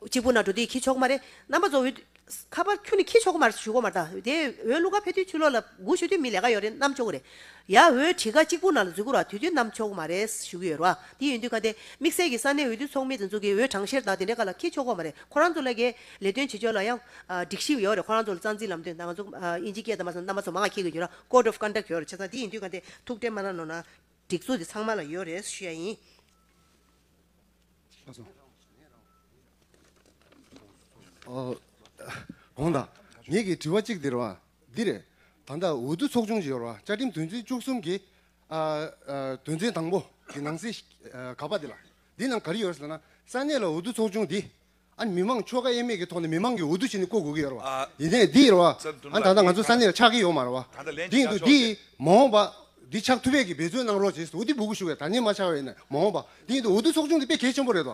Speaker 1: གཅིག་པུ་ན་འགྲོ་དུས་ཁྱི་ཆོག་མ་རེད་རྣམ་པ་ཚོ་འོས། ཁ་པར་ཁྱོད་ནི་ཁྱི་ཆོ་གོ་མར་ཞུ་གོ་མར་བལྟ། དེ་འོས་གླུ་གར་ཕེ་ཐུའི་ཆུ་ལོག་ལ་སྒུག་ཤོད་དུས་མི་ལས་ཀ་ཡོད་རེད་གནམ་ཆོ་གོ་རེད། ཡ་འོས་བྲིས་ཁ་གཅིག་པུ་ནང་ལ་འཛུལ་དགོས་ར་དུས་དུས་གནམ་ཆོ་གོ་མ་རེད་ཞུ་གི་ཡོད་ར་དེ་ཡིན་དུས་ཁ་དེ་དམིགས་བསལ་གྱི་ས་གནས་འོས་བསྡུ་ཚོགས་མི་དེ་འཛུགས་ཀྱི་འོས་གྲངས་བཤེར་དང་དེ་འདྲའི་ཀ་ལ་ཁྱི་ཆོ་གོ་མ་རེད་ཁོ་རང་ཚོ་ལ་དགེ་ལས་དོན་བྱེད་ཕྱོགས་ལ་ཡང་སྒྲིག་གཞི་ཡོད་རེད་ཁོ་རང་ཚོ་ལ་རྩ་འཛིན་ལམ་སྟོན་དང་ང་ཚོ་དབྱིན་ཇི་སྐད་དང་མ་ཚང་རྣམ་པ་ཚོ་མང་ང་ཁྱི་གི་ཡོད་ར Code of Conduct ཡོད་རེད་ཆ་ཚང་དེ་ཡིན་དུས་ཁ་དེ་ཐུགས་ཁྲལ་མ་གནང་ནོ་ན་སྒྲིག་འཛུགས་དེ་ཚང་མ་ལ་ཡོད་རེད་ཞུ་ཡ་ཡིན།
Speaker 6: གོང་དང། ངེད་ཀྱིས་དྲི་བ་གཅིག་འདིར་བ། འདི་རེད། ད་ལྟ་འོས་བསྡུ་ཚོགས་ཆུང་ཞིག་ཡོར་བ་བཅའ་ཁྲིམས་དོན་ཚན་བཅུ་གསུམ་གྱི། དོན་ཚན་དང་པོ་གི་ནང་གསེས་ག་པ་འདི་ལ། འདི་ནང་ག་རེ་ཡོར་ཟེར་ན། ས་གནས་ལ་འོས་བསྡུ་ཚོགས་ཆུང་འདི། ཨ་མི་མང་ཆོ་ག་དབྱེ་མེད་ཀྱི་ཐོག་ནས་མི་མང་གིས་འོས་བསྡུ་བྱས་ནས་བསྐོ་དགོས་ཀྱི་ཡོར་བ། ཡིན་ནའི་འདི་ཡོར་བ། ཨ་ད་ལྟ་ང་ཚོ་ས་གནས་ལ་ཆགས་ཀྱི་ཡོར་མ་རེད་བ། འདི་ཡིན་དུས་འདིས། མ་འོངས་པ། འདི་ཆགས་ཐུབ་བས་ཀྱི་འབད་བརྩོན་གནང་རོགས་བྱས་སུ་འོ་དི་སྦུ་གུ་ཞུ་བས་ད་ནས་མ་ཆགས་བས་ནས་མ་འོངས་པ། འདི་ཡིན་དུས་འོས་བསྡུ་ཚོགས་ཆུང་འདི་དཔེ་གལ་ཆེན་པོ་རེད་བ།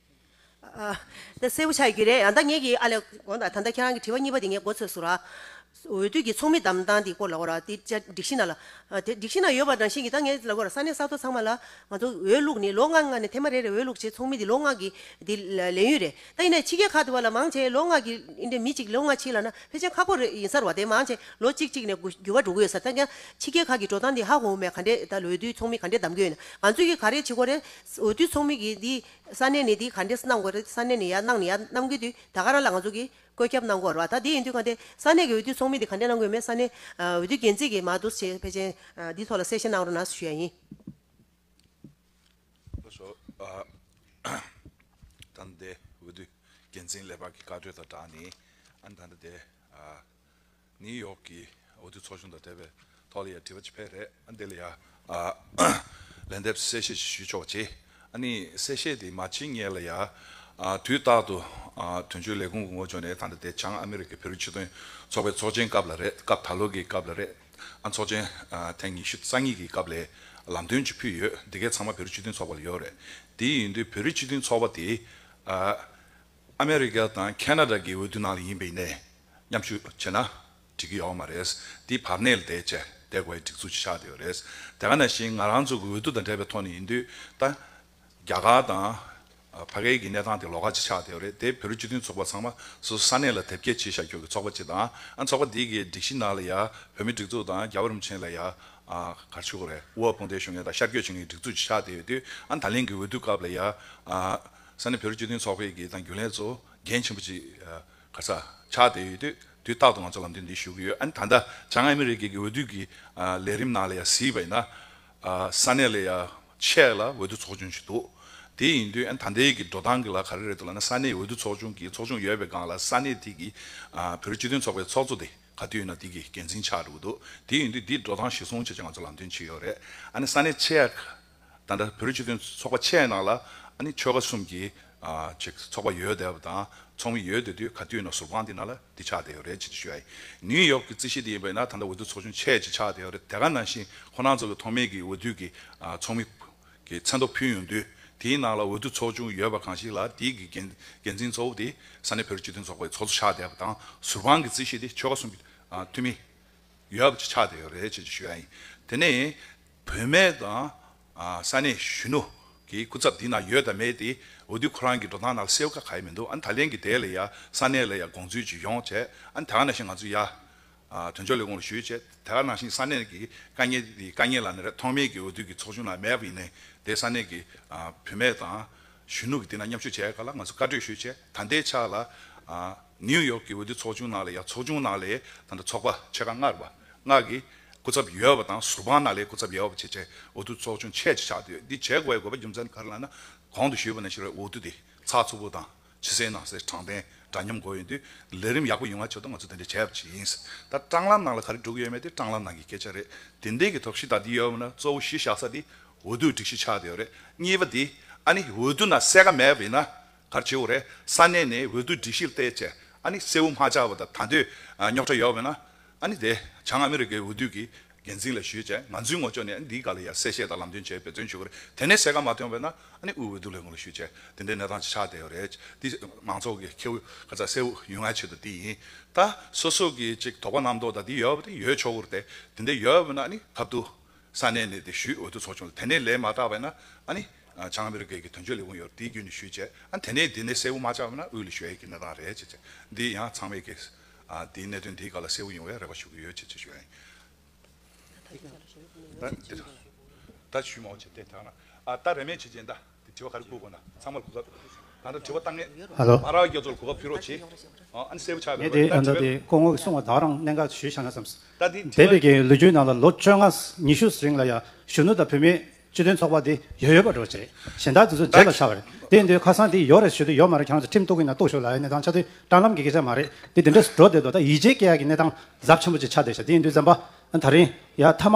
Speaker 1: ད་གསལ་པོ་ཆགས་ཡོད་ཀྱི་རེད། ཡང་ད་ངེད་ཀྱིས་ཨ་ལས། ཨོ་ད་ད་ད་ཁྱེད་རང་གི་དྲི་བ་གཉིས་པ་དེ་ངས་མགོ་ཚོས་སུ་ར། འོས་བསྡུ་གྱི་ཚོགས་མི་བདམས་སྟངས་དེ་སྐོར་ལ་གོ་ར། དེ་ཅག་སྒྲིག་གཞི་ནང་ལ། དེ་སྒྲིག་གཞི་ནང་ཡོད་པ་རང་བཞིན་གྱིས་ད་ངས་ལ་གོ་ར་ས་གནས་ས་ཐོ་ཚང་མ་ལ། ང་ཚོ་འོས་བླུགས་ནི་ལོ་ལྔ་ལྔ་ནས་ཐེངས་མ་རེ་རེར་འོས་བླུགས་བྱེད་ཚོགས་མི་དེ་ལོ་ལྔ་གི། དེ་ལས་ཡུན་རེ། ད་ཡིན་ནའི་ཕྱི་རྒྱལ་ཁག་དེ་བ་ལ་མང་ཆེ་ལོ་ལྔ་གི། ཡིན་དེ་མི་གཅིག་ལོ་ལྔ་ཕྱིན་ལ་ན་ཕལ་ཆེན་ཁག་པོ་རེ་ཡིན་སར་བ་དེ་མང་ཆེ་ལོ་གཅིག་གཅིག་ནས་འགྱུར་བ་འགྲོ་གི་ཡོད་སར་ད་ཀྱང། ཕྱི་རྒྱལ་ཁག་གི་འགྲོ་སྟངས་དེ་ཧ་གོ་མེད་ག་འདྲེ་ད་འོས་བསྡུའི་ཚོགས་མི་ག་འདྲེ་བདམས་དགོས་ཡིན་ན་ང་ཚོས་ཀྱིས་ག་རེ་བྱེད་གོ་རེ། འོས་བསྡུའི་ཚོགས་མི་གིས་དེ་ས་གནས་ནས་དེ་ག་འདྲས་སུ་གནང་དགོས་རེད་ས་གནས་ནས་ཡར་གནང་ནས་ཡར་གནང་དགོས་དུས་ད་ག་རང་ལ་ང་ཚོ་གིས་བཀོད་ཁྱབ་གནང་དགོས་ར་བ་ད་དེ་ཡིན་དུས་ག་འདྲས་ས་གནས་ཀྱི་འོས་བསྡུའི་ཚོགས་མི་དེ་ག་འདྲས་གནང་དགོས་མེད་ས་གནས་འོས་བསྡུའི་འགན་འཛིན་གྱིས་མ་དུ་བྱས་ཕལ་ཆེན་དེའི་ཐོག་ལ་གསལ་བཤད་གནང་རོགས་གནང་ཞུ་ཡ་ཡིན།
Speaker 7: བློ་ཞོ་ད་ནི་དེ་འོས་བསྡུའི་འགན་འཛིན་ལས་འབག་གི་བཀའ་འཁྲོལ་དང་སྦྲགས་ནས་ཨ་ནི་ད་ནི་དེ། ནིའུ་ཡོག་གི་འོས་བསྡུ་ཚོགས་ཆུང་དང་འབྲེལ་བའི་ཐོག་ལ་ཡང་དྲི་བ་ཅི་འཕེལ་རེད། འདི་ལ་ཡང་ལན་འདེབས་གསལ་བཤད་ཅིག་ཞུས་ཆོག་ཅེས། ཨ་ནི་གསལ་བཤད་དེ་མ་ཕྱིན་ངེད་ལ་ཡང་དུས་རྟག་ཏུ་དོན་གཅོད་ལས་ཁུངས་ཀྱི་ངོ་བྱོན་ནས་ད་ལྟ་དེ་བྱང་ཨ་མེ་རི་ཀའི་བེ་རུ་ཆེད་དོན་ཚོགས་པའི་ཚོགས་ཆེན་སྐབས་ལ་རེད་སྐབས་ད་ལོ་གི་སྐབས་ལ་རེད། ཨ་ཚོགས་ཆེན་ཐེངས་ཉི་ཤུ་རྩ་གཉིས་ཀྱི་སྐབས་ལས་ལམ་སྟོན་ཅིག་ཕུལ་ཡོད་དེ་གས་ཚང་མ་བེ་རུ་ཆེད་དོན་ཚོགས་པ་ལ་ཡོད་རེད་དེ་ཡིན་དུས་བེ་རུ་ཆེད་དོན་ཚོགས་པ་དེའི་ཨ་མེ་རི་ཀ་དང་ཁ་ན་ར་གི་འོས་བསྡུ་ནང་ལ་ཡིན་པའི་གནས་མཉམ་ཞུ་བྱས་ན་འགྲིག་གི་ཡོག་མ་རེད། དེའི་བར་གནས་ལ་བསྡད་བྱས་བསྡད་གོ་ཡ་སྒྲིག་འཛུགས་ཅིག་ཆགས་བསྡད་ཡོག་རེད། དེ་ག་ནང་བཞིན་ང་རང་ཚོ་གི་འོས་བསྡུ་དང་འབྲེལ་བའི་ཐོག་ནས་ཡིན་དུས་ད་རྒྱ་གར་དང་བྷ་གའི་གི་གནས་སྟངས་དེ་ལོག་ཁ་ཅིག་ཆགས་བསྡད་ཡོག་རེད་དེ་བོད་རིགས་སྤྱི་མཐུན་ཚོགས་པ་ཚང་མ་སོ་སོ་ས་གནས་ལ་དེབ་སྐྱེལ་བྱེད་ཤག་ཁྱོ་གི་ཚོགས་པ་ཅིག་དང་ཨ་ཚོགས་པ་དེ་གི་སྒྲིག་གཞི་ནང་ལ་ཡ་བོད་མི་སྒྲིག་འཛུགས་དང་རྒྱ་བོད་རིན་པོ་ཆེན་ལ་ཡ་གར་ཆོས་གོ་རེ་ཝུའ་ཕོང་ཐའི་ཞོ་ངེ་དང་ཤར་བསྐྱོད་བྱེད་མཁན་གི་སྒྲིག་འཛུགས་ཅིག་ཆགས་བསྡད་ཡོད་དུས་ཨ་ད་ལིང་གི་འོས་བསྡུ་སྐབས་ལ་ཡ། ས་གནས་བོད་རིགས་སྤྱི་མཐུན་ཚོགས་པའི་དགེ་དང་རྒྱུན་ལས་གཙོ་འགན་ཆེན་པོ་གཅིག་ག་ས་ཆགས་བསྡད་ཡོད་དུས་དུས་རྟག་ཏུ་ང་ཚོ་ལམ་སྟོན་འདི་ཞུ་གི་ཡོད་ཨ་ནི་ད་ལྟ་བྱང་ཨ་མི་རི་ཀའི་གི་འོས་བསྡུ་གི་ལས་རིམ་ནང་ལ་ཡང་གཟིགས་པ་ཡིན་ན། ས་གནས་ལ་ཡང་ཆེག་ལ་འོས་བསྡུ་ཚོགས་ཆུང་ཞིག་འདུག་དེ་ཡིན་དུས་ཨ་ནི་ད་ལྟའི་གི་འགྲོ་སྟངས་གི་ལ་ག་རེ་རེད་འདུག་ལ་ན་ས་གནས་འོས་བསྡུ་ཚོགས་ཆུང་གི་ཚོགས་ཆུང་ཡོད་པའི་སྒང་ལ་ས་གནས་དེ་གི་བོད་རིགས་སྤྱི་མཐུན་ཚོགས་པའི་ཚོགས་གཙོ་དེ་ག་དུས་ཡིན་ན་དེ་གི་འགན་འཛིན་ཆགས་འགྲོ་གི་འདུག་དེ་ཡིན་དུས་འདིའི་འགྲོ་སྟངས་གཞིར་བཟུང་བྱས་ཆ་ང་ཚོ་ལམ་སྟོན་བྱེད་ཀྱི་ཡོད་རེད་ཨ་ནི་ས་གནས་ཆེག་ད་ལྟ་བོད་རིགས་སྤྱི་མཐུན་ཚོགས་པ་ཆེ་ནང་ལ་ཨ་ནི་ཆོལ་ཁ་གསུམ་གྱི་ཚོགས་པ་ཡོད་བསྡད་པ་དང་ཚོགས་མི་ཡོད་བསྡད་དུས་ག་དུས་ན་ཟུར་ཁང་འདི་ནང་ལ་འདི་ཆགས་བསྡད་ཡོད་རེད་ཅེས་ཏེ་ཞུ་ཡ་ཡིན། ནིའུ་ཡོག་གི་རྩིས་གཞི་འདི་ཡིན་པས་ན་ད་ལྟ་འོས་བསྡུ་ཚོགས་ཆུང་ཆེ་ཅིག་ཆགས་བསྡད་ཡོད་རེད་དེ་ག་ནང་བཞིན་ཁོ་རང་ཚོ་གི་ཐོག་མེད་ཀྱི་འོས་བསྡུ་གི་ཚོགས་མི་གི་མཚན་ཐོ་ཕུལ་ཡོང་དུས་དེའི་ནང་ལ་འོས་བསྡུ་ཚོགས་ཆུང་ཡོད་པ་གང་ཞིག་ལ་དེའི་གི་འགན་འཛིན་གཙོ་བོ་དེ་ས་གནས་བོད་རིགས་སྤྱི་མཐུན་ཚོགས་པའི་ཚོགས་གཙོ་ཆགས་བསྡད་པ་དང་ཟུར་ཁང་གི་རྩིས་གཞི་འདི་ཆོལ་ཁ་གསུམ་གྱི་འཐུས་མི་ཡོད་བསྡད་ཆགས་བསྡད་ཡོད་རེད་ཅེས་ཏེ་ཞུ་ཡ་ཡིན། དེ་ནས། བོད་མི་དང་ས་གནས་གཞོན་ནུ་གི་སྐུ་ཚབ་འདི་ན་ཡོད་དང་མེད་དེ་འོས་བསྡུ་ཁོ་རང་གི་འགྲོ་སྟངས་ནང་སེལ་ཁ་ག་ཡི་མི་འདུག་ཨ་ནི་ད་ལན་གི་དེ་ལ་ཡ་ས་གནས་ལ་ཡ་དགོངས་ཚུལ་ཇི་ཡོང་བྱས་ཨ་ནི་དེ་ག་ནང་བཞིན་ང་ཚོ་ཡ་དོན་གཅོ་ལས་ཁུངས་ལ་ཞུས་བྱས་དེ་ག་ནང་བཞིན་ས་གནས་ཀྱི་དཀའ་ངལ་དེ་དཀའ་ངལ་ལ་ནི་རེད་ཐོག་མེད་ཀྱི་འོས་བསྡུ་གི་ཚོགས་ཆུང་ལ་མེད་པ་ཡིན་ནའི་དེ་ས་གནས་ཀྱི་བོད་མི་དང་གཞོན་ནུ་གི་དེ་ན་མཉམ་ཞུགས་བྱས་ག་ལ་ང་ཚོ་བཀའ་གྲོས་ཞུས་བྱས་ད་འདའི་ཆ་ལ་ཨ། ནིའུ་ཡོག་གི་འོས་བསྡུ་ཚོགས་ཆུང་ནང་ལས་ཡ་ཚོགས་ཆུང་ནང་ལས་དང་དྲ་ཚོགས་པ་ཕྱེད་ཀ་ལྔ་རེ་བ་ལྔ་གི་སྐུ་ཚབ་ཡོད་པ་དང་ཟུར་དཔང་ནང་ལས་སྐུ་ཚབ་ཡོད་པ་བཅས་བཅས་འོས་བསྡུ་ཚོགས་ཆུང་ཕྱེད་ཅིག་ཆགས་བསྡད་ཡོད་འདི་བྱེད་དགོས་པའི་དགོས་པ་རྒྱུ་མཚན་ག་རེ་ལ་ན་གོང་དུ་ཞུས་པ་ནས་ཕྱི་རོལ་འོས་བསྡུ་དེ་ཚགས་ཚུད་པོ་དང་ཕྱི་སའི་ནང་སའི་དྲང་བདེན་འདྲ་མཉམ་དགོས་ཡོད་དུས་ལས་རིམ་ཡག་པོ་ཡོང་བ་ཆེད་དུ་ང་ཚོས་དེ་འདྲ་བྱས་པ་ཅིག་ཡིན་ད་སྤྲང་ལམ་ནང་ལ་ག་རེ་འགྲོ་གི་ཡོད་མེད་དེ་སྤྲང་ལམ་ནང་གི་སྐད་ཆ་རེད་དེ་འདས་ཀྱི་ཐོག་གཞི་བདག་འདི་ཡོད་པ་ན་གཙོ་བོ་གཞི་བཞག་ས་དེ་འོས་བསྡུའི་སྒྲིག་གཞི་ཆགས་བསྡད་ཡོད་རེད་གཉིས་པ་དེ་ཨ་ནི་འོས་བསྡུ་ནང་གསལ་ཁ་མེད་པ་ཡིན་ན་གར་བྱེའུ་རེ་ས་གནས་ནས་འོས་བསྡུ་སྒྲིག་གཞིར་བལྟས་ཆེ་ཨ་ནི་སེའུ་མ་བཅའ་བ་དང་ད་འདོད་རྙོག་དྲ་ཡོད་པས་ན་ཨ་ནི་དེ་བྱང་ཨ་མི་རི་ཀའི་འོས་བསྡུ་གི་འགན་འཛིན་ལ་ཞུས་ཆེ་ང་ཚོའི་ངོ་ཅོག་ནས་ཨ་ནི་འདིའི་བཀའ་ལ་ཡར་གསལ་བཤད་དང་ལམ་སྟོན་བྱེད་འབད་བརྩོན་ཞུ་གི་རེད་དེ་ནས་གསལ་ཁ་མ་ཐོན་པས་ན་ཨ་ནི་དབུས་འོས་བསྡུ་ལས་ཁུངས་ལ་ཞུས་ཆེ་དེ་འདྲའི་གནས་སྟངས་ཆགས་བསྡད་ཡོད་རེད་འདི་མང་ཚོགས་ཀྱི་ཁེའུ་ཁ་ཚ་སེའུ་ཡུལ་ང་ཆེད་དུ་འདི་ཡིན་ད་སོ་སོ་གི་ཅིག་དོགས་པ་རྣམ་རྟོག་དང་འདི་ཡོད་པ་དེ་ཡོད་ཆོག་གི་རེད་དེ་འདྲ་ཡོད་པས་ན་ཨ་ནི་གབ་ཏུ། ས་གནས་ནས་དེ་ཞུས་འོས་བསྡུ་ཚོགས་ཆུང་ལ་དེ་ནས་ལས་མ་བསྒྲགས་པས་ན་ཨ་ནི་བྱང་མི་རི་གས་ཀྱི་དོན་གཅོད་ལས་དབུང་ཡོད་རེད་དེའི་རྒྱུན་ནས་ཞུས་བྱས་ཨ་ནི་དེ་ནས་འདི་ནས་གསལ་བོ་མ་ཆགས་པས་ན་དབུས་ལས་ཞུ་ཡས་ཀྱི་གནས་སྟངས་རེད་ཅེས་བྱས་འདི་ཡང་ཚང་མས་ཀྱིས་འདིའི་གནད་དོན་འདིའི་སྐོར་ལ་གསལ་བོ་ཡོང་བའི་རེ་བ་ཞུ་གི་ཡོད་ཅེས་བྱས་ཞུས་ཨ་ནི་ད་ཞུས་མ་འོ་བྱས་ཏེ་ད་ཨ་ད་རེ་མེད་བྱས་རྗེས་ད། དྲི་བ་ག་རེ་བསྐུར་དགོས་ན་ཚང་མར་གོ་སྐབས་ད་ལྟ་དྲི་བ་བཏང་ངེས། མ་རག་རྒྱ་མཚོར་གོ་སྐབས་ཕུལ་རོགས་
Speaker 4: གྱིས། ཨ་ནི་གསལ་པོ་ཆགས་པའི་བར་ལ་ད་དྲི་བའི། སྐུ་ངོ་གསུང་བ་དག་རང་གནས་འགའ་ཞུས་ཤག་ན་བསམས། ད་དེ་འདས་པའི་གིའི་ལོ་རྒྱུས་ནང་ལ་ལོ་བཅོ་ལྔ་ཉི་ཤུ་རིང་ལ་ཡ་གཞོན་ནུ་དང་བུད་མེད་སྤྱི་དོན་ཚོགས་པ་དེ་ཡོད་ཡོད་པ་འགྲོ་བྱེད་གཞན་དག་དེ་ཚོ་རྗེས་ལ་ཆགས་པ་རེད་དེ་འདོད་ཁ་སང་དེ་ཡོད་རེད་ཞུ་དེ་ཡོད་མ་རེད་ཁྱེད་རང་ཚོ་ཁྲིམས་གཏུག་གི་ན་གཏུག་ཞུ་ལ་ཡ་གནས་སྟངས་ཆ་དེ་དྲང་ལམ་གི་སྐད་ཆ་མ་རེད་དེ་དེ་འདྲས་སུ་འགྲོ་བསྡད་འདུག་ད་ཡིད་ཆེས་སྐྱེ་ཡག་གི་གནས་སྟངས་གཟབ་ཆེན་པོ་ཅིག་ཆགས་བསྡད་ཤག་དེ་ཡིན་དུས་འཛམ་པ་ད་རིང་ཡ་མཐའ་མ་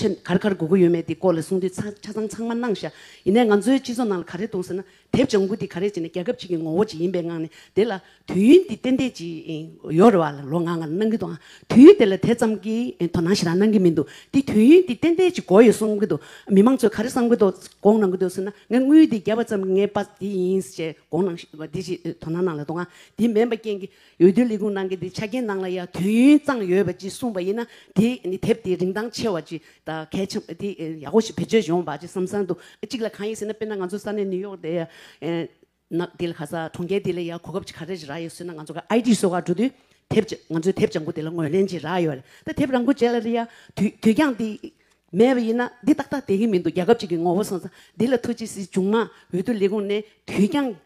Speaker 8: ཆེད་མཁར་མཁར་དགོས་མཁོ་ཡོད་མེད་དེ་སྐོར་ལ་གསུང་དུས་ཆ་ཚང་ཚང་མ་གནང་ཤག་ཡིན་ནའི་ང་ཚོའི་སྤྱི་ཚོགས་ནང་ལ་ག་རེ་གཏོང་ཟེར་ན་དེབ་ལྗང་གུ་དེ་ག་རེ་བྱས་ནས་རྒྱལ་ཁབ་ཅིག་གི་ངོ་བོ་ཅིག་ཡིན་པའི་ངང་ནས་དེ་ལ་དུས་ཡུན་དེ་ཏན་ཏན་ཅིག་ཡོད་རེ་བ་ལ་ལོ་ང་ང་གནང་གི་འདུག་དུས་ཡུན་དེ་ལ་དེ་ཙམ་གྱི་དོ་སྣང་ཞེ་དྲག་གནང་གི་མི་འདུག་དེ་དུས་ཡུན་དེ་ཏན་ཏན་ཅིག་འགོར་ཡོད་གསུང་གི་འདུག་མི་མང་ཚོས་ག་རེ་བསམ་གི་འདུག་དགོངས་གནང་གི་འདུག་ཟེར་ན་ངས་དངུལ་དེ་བརྒྱབ་པ་ཙམ་གྱིས་ངའི་པ་དེ་ཡིན་ཞེས་དགོངས་གནང་ཞེས་པ་དེ་ཞིག་དོ་སྣང་གནང་ལ་འདུག་ང་དེ་མེད་པ་རྐྱེན་གྱིས་འོས་བསྡུའི་ལས་ཁུངས་ནང་གི་དེའི་ཆ་རྐྱེན་ནང་ལ་ཡང་དུས་ཡུན་གཙང་ཡོད་པ་ཅིག་གསུངས་པ་ཡིན་ན་དེ་ནི་དེབ་དེ་རིན་ཐང་ཆེ་བ་ཅིག་དང་གལ་ཆེན་པོ་དེ་ཡག་པོ་ཞིག་བེད་སྤྱོད་ཡོང་བ་ཅིག་བསམ་བསམ་འདུག་གཅིག་ལ་གང་ཡིན་ཟེར་ན་དཔེར་ན་ང་ཚོ་ས་གནས་ནིའུ་ཡོག་དེ་ནག་དེ་ལ་ག་ས་གྲོང་ཁྱེར་དེ་ལ་ཡང་གོ་སྐབས་ཅིག་ག་རེ་རག་ཡོད་ཟེར་ན་ང་ཚོ་ག་ཨའི་ཏི་སོགས་ཀ་འགྲོ་དུས་དེབ་ཅིག་ང་ཚོའི་དེབ་བྱང་བུ་དེ་ལ་ངོས་ལེན་ཅིག་རག་ཡོད་རེད་ད་དེབ་རང་འགུལ་བྱས་ལ་རེ་ཡ་དུས་དུས་འགྱངས་དེ་མེད་པ་ཡིན་ན་འདི་ཏག་ཏག་བསྡད་ཀྱི་མི་འདུག་རྒྱལ་ཁབ་ཅིག་གི་ངོ་བོ་བསམ་བསམ་འདི་ལ་ཐུགས་རྗེ་གཟིགས་བྱུང་ན་འོས་བསྡུ་ལས་ཁུངས་ནས་དུས་འགྱངས།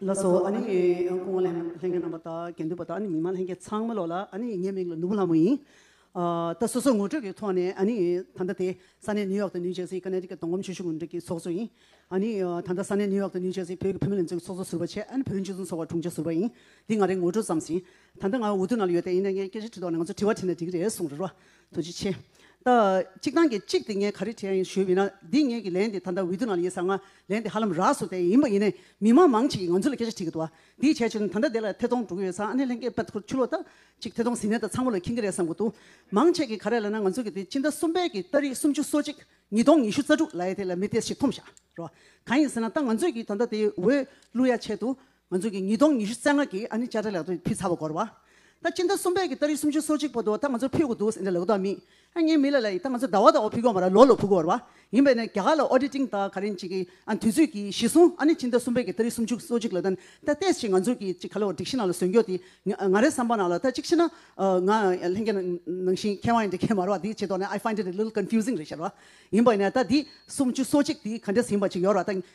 Speaker 9: ལགས་སོ། ཨ་ནི་ཁོང་བོད་ལྷན་ཁང་རྣམ་པ་དང་དགེ་འདུན་པ་དང་ཨ་ནི་མི་མང་ལྷན་རྒྱས་ཚང་མ་ལོགས་ལ་ཨ་ནི་ངའི་མིང་ལ་ནུ་བོ་ལྷ་མོ་ཡིན། ད་སོ་སོའི་ངོ་སྤྲོད་ཀྱི་ཐོག་ནས་ཨ་ནི་ད་ལྟ་དེ་ས་གནས་ནིའུ་ཡོག་ཏུ་ནིའུ་ཇེར་སི Connecticut དང་གོམ་ཆོས་ཤུགས་འབྲེལ་གྱི་ཚོགས་གཙོ་ཡིན། ཨ་ནི་ད་ལྟ་ས་གནས་ནིའུ་ཡོག་ཏུ་ནིའུ་ཇེར་སི་བོད་ཀྱི་བུད་མེད་ལས་འཛོལ་གྱི་ཚོགས་གཙོ་ཟུར་བ་ཆེད་ཨ་ནི་བོད་རིགས་སྤྱི་མཐུན་ཚོགས་པ་དྲུང་ཆེ་ཟུར་བ་ཡིན། འདི་ང་རེ་ངོ་སྤྲོད་ཙམ་ཞིང། ད་ལྟ་ང་འུ་ཐུག་ནང་ལ་ཡོད་དེ་ཡིན་ན་ངས་སྐད་ཆ་དྲི་དོགས་ན་ང་ཚོ་དྲི་བ་དྲིས་ན་འགྲིག་རེད་གསུངས་རེད་རོ། དུ་ཅི་བྱེད། ད་གཅིག་ཐང་གི་གཅིག་དེ་ངས་ག་རེ་བྱས་ཡིན་ཞུས་མིན་ན་འདི་ངེད་ཀྱི་ལན་དེ་ད་ལྟ་འོས་བསྡུ་ནང་ལ་ཡིན་ཟ་ང་ལན་དེ་ཧ་ལམ་རགས་སུ་དེ་ཡིན་པ་ཡིན་ནས་མི་དམངས་མང་ཅིག་གིས་ང་ཚོ་ལ་སྐད་ཆ་དྲིས་ཀྱི་འདུག་དེའི་བྱས་ཆོས་ནི་ད་ལྟ་དེ་ལ་ཐེ་ཚོམ་འགྲོ་གི་ཡོད་ས་ཨ་ནེ་ལྷན་སྐད་པད་ཁུར་ཆུ་ལོག་ད་ཅིག་ཐེ་ཚོམ་ཟིན་ནས་ད་ཚང་མ་ལ་འཁེང་གི་རེད་བསམ་གྱི་འདུག་མང་ཆེ་གིས་ག་རེ་ལབ་ན་ང་ཚོ་གི་དེ་སྤྱི་ཟླ་གསུམ་པའི་གི་ལྟ་རིགས་སུམ་ཅུ་སོ་གཅིག་ཉིས་སྟོང་ཉི་ཤུ་རྩ་དྲུག་ལ་ཡེ་དེ་ལ་མི་ཏེས་ཞིག་འཐོམ་བཞག་རོགས་གང་ཡིན་ཟེར་ན་ད་ང་ཚོས་གི་ད་ལྟ་དེ་འོས་བསླུ་ཡ་ཆེད་དུ་ང་ཚོ་གི་ཉིས་སྟོང་ཉི་ཤུ་རྩ་ལྔ་གི་ཨ་ནི་བཅའ་ཁྲ་ལག་ཏུ་ཕུལ་ཚར་བ་གོར་བ། ད་སྤྱི་ཟླ་གསུམ་པའི་གི་ད་རིག་སུམ་ཅུ་སོ་གཅིག་པོ་དུ་ད་ང་ཚོར་ཕུལ་དགོས་འདུག་ཟེར་འདྲ་ལག་ཏུ་མི་ཨ་ངའི་མི་ལ་ལ་ཡིས་ད་ང་ཚོ་ཟླ་བ་ཟླ་བ་ཕུལ་གོར་མ་ར་ལོ་ལོ་ཕུལ་གོར་བ། ཡིན་པས་ན་རྒྱ་གར་ལ Auditing ད་ག་རེན་ཅིག་གི་ཨ་ནི་དུས་ཚོད་ཀྱི་གཞི་བཟུང་ཨ་ནི་སྤྱི་ཟླ་གསུམ་པའི་གི་ད་རིག་སུམ་ཅུ་སོ་གཅིག་ལ་ད་ནི་ད་ལྟས་ཅི་ང་ཚོ་གི་ཅིག་ག་ལ་བ་སྒྲིག་གཞི་ནང་ལ་ཟོན་རྒྱོ་དེ་ང་རའི་བསམ་པ་ནང་ལ་ད་ཅིག་ཤི་ན་ང་ལྷན་རྒྱ་ནང་བཞིན་མཁས་དབང་ཡིན་འདྲ་མཁས་མ་ར་བ་དེ་ཆེ་དོག་ནས I find it a little confusing རེད་ཤར་བ། ཡིན་པས་ན་ད་དེ་སུམ་ཅུ་སོ་གཅིག་དེ་ག་འདྲ་ཟིན་པ་ཅིག་ཡོར་བ་ད་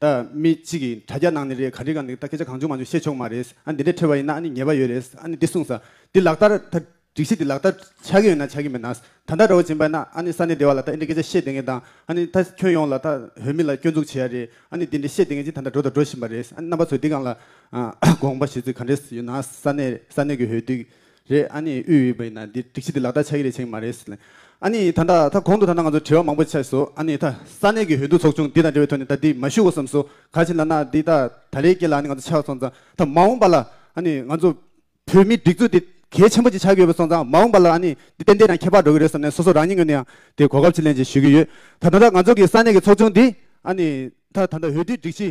Speaker 2: ད་མི་གཅིག་གིས་དྲ་རྒྱ་ནང་ནས་རེད་ག་རེ་ག་འདུག་ད་སྐད་ཆ་གང་བྱུང་མ་བྱུང་བཤད་ཆོག་མ་རེད། ཨ་འདི་འདྲས་ཁྲོལ་བ་ཡིན་ན་ཨ་ནི་ཉེས་པ་ཡོད་རེད། ཨ་ནི་འདི་གསུངས། འདི་ལག་བསྟར། ད་སྒྲིག་གཞི་འདི་ལག་བསྟར་ཆགས་ཀྱི་ཡོད་ན་ཆགས་ཀྱི་མེད་ན། ད་ལྟ་ར་བ་འབྱིན་པ་ཡིན་ན་ཨ་ནི་ས་གནས་སྡེ་བ་ལ་ད་ཨེ་འདྲས་སྐད་ཆ་བཤད་དེ་ངས་དང་ཨ་ནི་ད་ཁྱོན་ཡོངས་ལ་ད་བོད་མི་ལ་སྐྱོན་འཛུགས་བྱེད་ཡ་རེད་ཨ་ནི་འདི་འདྲས་བཤད་དེ་ངས་ཅི་ད་ལྟ་འགྲོ་ད་འགྲོ་བཞིན་པ་རེད། ཨ་ནི་རྣམ་པ་ཚོས་འདི་གང་ལ་དགོངས་པ་བཞེས་ཚུལ་ག་འདྲས་ཡོད་ན་ས་གནས་ས་གནས་ཀྱི་འོས་བསྡུའི་རེད་ཨཱ་ནི་དབུས་འོས་འབའ་ཡིན་ན་འདི་སྒྲིག་གཞི་འདི་ལག་བསྟར་ཆགས་ཀྱི་རེད་བྱེད་ཀྱི་མ་རེད་ཟེར། ཨཱ་ནི་ད་ལྟ་ད་གོང་དུ་ད་ལྟ་ང་ཚོར་དྲི་བ་མང་པོ་ཆགས་སོ་ཨཱ་ནི་ད་ས་གནས་ཀྱི་འོས་བསྡུ་ཚོགས་ཆུང་འདི་དང་འབྲེལ་བའི་ཐོག་ནས་ད་འདི་མ་ཞུ་གོ་བསམ་སོ་ག་བྱེད་ལབ་ན་འདི་ད་ད་ལེའི་སྐད་ལ་ཨཱ་ནི་ང་ཚོ་ཆགས་སོང་ཙང་ད་མ་འོངས་པ་ལ་ཨཱ་ནི་ང་ཚོ་བོད་མིའི་སྒྲིག་འཛུགས་འདི་གལ་ཆེན་པོ་ཅིག་ཆགས་ཀྱི་ཡོད་པ་སོང་ཙང་མ་འོངས་པ་ལ་ཨཱ་ནི་འདི་ཏན་ཏན་ཡང་ཁྱད་འཕགས་འགྲོ་གི་རེད་བསམ་ནས་སོ་སོ་རང་ཉིད་ངོས་ནས་ཡང་དེ་གོ་སྐབས་ཅིག་ལེན་ཅིག་ཞུ་གི་ཡོད་ད་ད་ལྟ་ང་ཚོ་གི་ས་གནས་ཀྱི་ཚོགས་ཆུང་འདི་ཨཱ་ནི་ད་ད་ལྟ་འོས་བསྡུའི་སྒྲིག་གཞི།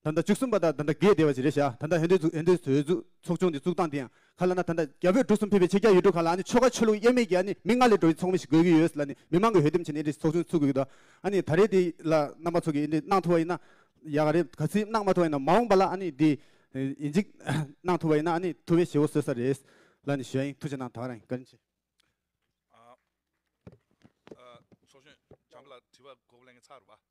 Speaker 2: ད་ལྟ་བཅུ་གསུམ་པ་དག་ད་ལྟ་རྒས་བདེ་བ་ཅི་རེ་བྱ་ད་ལྟ་ཧན་དོན་ཚུགས་ཨན་དོན་ཟོས་ཚུགས་ཚོགས་ཆུང་འདི་བཙུགས་སྟངས་དེའང་ཁ་ལ་ན་ད་ལྟ་རྒྱ་བོད་འབྲུག་གསུམ་ཕལ་པའི་ཕྱེད་རྒྱ་ཡུལ་གྲུ་ཁག་ལ་ཨ་ནི་ཆོལ་ཁ་ཆོས་ལུགས་དབྱེར་མེད་ཀྱི་ཨ་ནི་མི་ང་ལས་འགྲོ་ཡི་ཚོགས་མི་ཞིག་དགོས་ཀྱི་ཡོད་ས་ལ་ནི་མི་མང་གི་འོས་འདེམས་བྱས་ནས་ཨན་དེ་ཚོགས་ཆུང་ཚུགས་དགོས་ཀྱི་འདུག་ཨ་ནི་ད་རེས་དེ་ལ་གནང་མ་ཚོགས་ཀྱི་ཨན་དེ་གནང་ཐུབ་པ་ཡིན་ན་ཡག་ག་རེད་ག་ཚིག་གནང་མ་ཐུབ་པ་ཡིན་ན་མ་འོངས་པ་ལ་ཨ་ནི་དེ་ཡིན་གཅིག་གནང་ཐུབ་པ་ཡིན་ན་ཨ་ནི་ཐུབ་པའི་བྱེད་པོ་བཟོས་ས་རེད་ལ་ནི་ཞུ་ཡ་ཡིན་ཐུགས་ཆེ་གནང་ད་ར་ཡིན་བཀའ་དྲིན་ཆེ། ཚོགས་གཞོན་བྱམས་པ་ལགས་
Speaker 7: དྲི་བ་གོ་གོ་ལེན་གིན་ཚར་བ།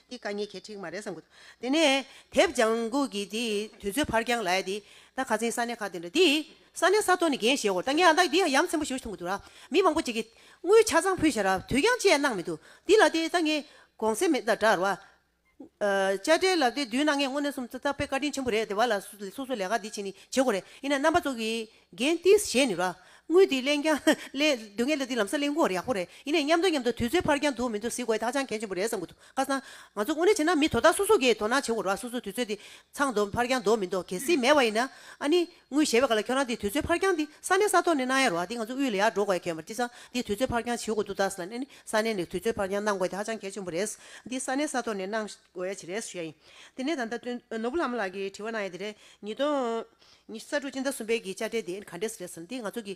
Speaker 1: འདི་བཀའ་ཉན་གྱི་ཁྲིགས་མ་རེད་བསམ་གི་འདུག་དེ་ནས་དེབ་ལྗང་གུ་གི་དེ་དུས་ཚོད་ཕར་འགྱངས་ལ་ཡ་དེ་ད་ག་ཚེན་ས་གནས་ཁག་དེ་འདྲ་དེ་ས་གནས་ས་ཐོ་ནས་འགན་བཞེས་འོར་ད་ངས་ཨ་འདག་འདི་ཡ་ཡམ་ཚན་པོ་ཞུ་ཐུང་གི་འདུག་ར་མི་མང་པོ་ཅིག་གིས་དངུལ་ཆ་ཚང་ཕུལ་ཞེས་ར་དུས་འགྱངས་བཅས་གནང་མི་འདུག་འདི་ལ་དེ་ད་ངས་དགོངས་སེལ་མེད་ད་འདྲ་ར། དཔྱ་ཁྲལ་ལབ་དེ་དུས་ན་ངས་དངོས་གནས་སུམ་རྩ་རྟག་པའི་བཀའ་དྲིན་ཆེན་པོ་རེད་དེ་བ་ལ་སོ་སོ་ལས་ཀ་འདི་བྱེད་ནི་བྱེད་དགོས་རེད་ཡིན་ན་རྣམ་པ་ཚོ་གིས་རྒན་ཏིས་བཞེས་ནུས་ལ། དངུལ་འདི་གླེང་རྐྱང་གླེང། དུས་ངན་ལ་འདི་ལམ་སང་གླེང་དགོས་ཡག་པོ་རེད། ཡིན་ནས་མཉམ་འདོད་མཉམ་འདོད་དུས་ཚོད་ཕར་འགྱངས་འདུག་མི་འདུག་གཟིགས་དགོས་དག་ཅང་གལ་ཆེན་པོ་རེད་བསམ་གྱི་འདུག་བཀའ་གསང། ང་ཚོ་དངོས་གནས་བྱས་ན་མི་དོ་བདག་སོ་སོ་གིས་དོ་སྣང་བྱེད་དགོས་ར་སོ་སོ་དུས་ཚོད་འདི་ཚང་འདུག་ཕར་འགྱངས་འདུག་མི་འདུག་གལ་སྲིད་མེད་པ་ཡིན་ན། ཨ་ནི། དངུལ་བཞེས་པའི་སྐབས་ལ་ཁྱོད་རང་འདི་དུས་ཚོད་ཕར་འགྱངས་འདི་ས་གནས་ས་ཐོག་ནས་གནང་ཡ་རོགས་ཨ་འདི་ང་ཚོ་དབུས་ལ་ཡར་འགྲོ་དགོས་ཡ་ཁྱོད་མར་ཅི་ཚང་འདི་དུས་ཚོད་ཕར་འགྱངས་བྱེད་དགོས་འདུག་དག་ས་ལ་ནས་ནི་ས་གནས་ནས་དུས་ཚོད་ཕར་འགྱངས་གནང་དགོས་དག་ཅང་གལ་ཆེན་པོ་རེད། འདི་ས་གནས་ས་ཐོག་ནས་གནང་དགོས་ཡ་ཆེ་རེད་ཞུ་ཡ་ཡིན། དེ་ནས་ད་ལྟ་ནོར་བུ་ལྷ་མོ་ལགས་ཀྱིས་དྲི་བ་གནང་ཡ་དེ་རེད། ཉིས་སྟོང། ཉི་ས་བཀྲུ་སྤྱི་ཟླ་གསུམ་པའི་གི་དཔྱ་ཁྲལ་དེ་ག་འདྲས་རེད་ཟེར་ན་འདི་ང་ཚོ་གི།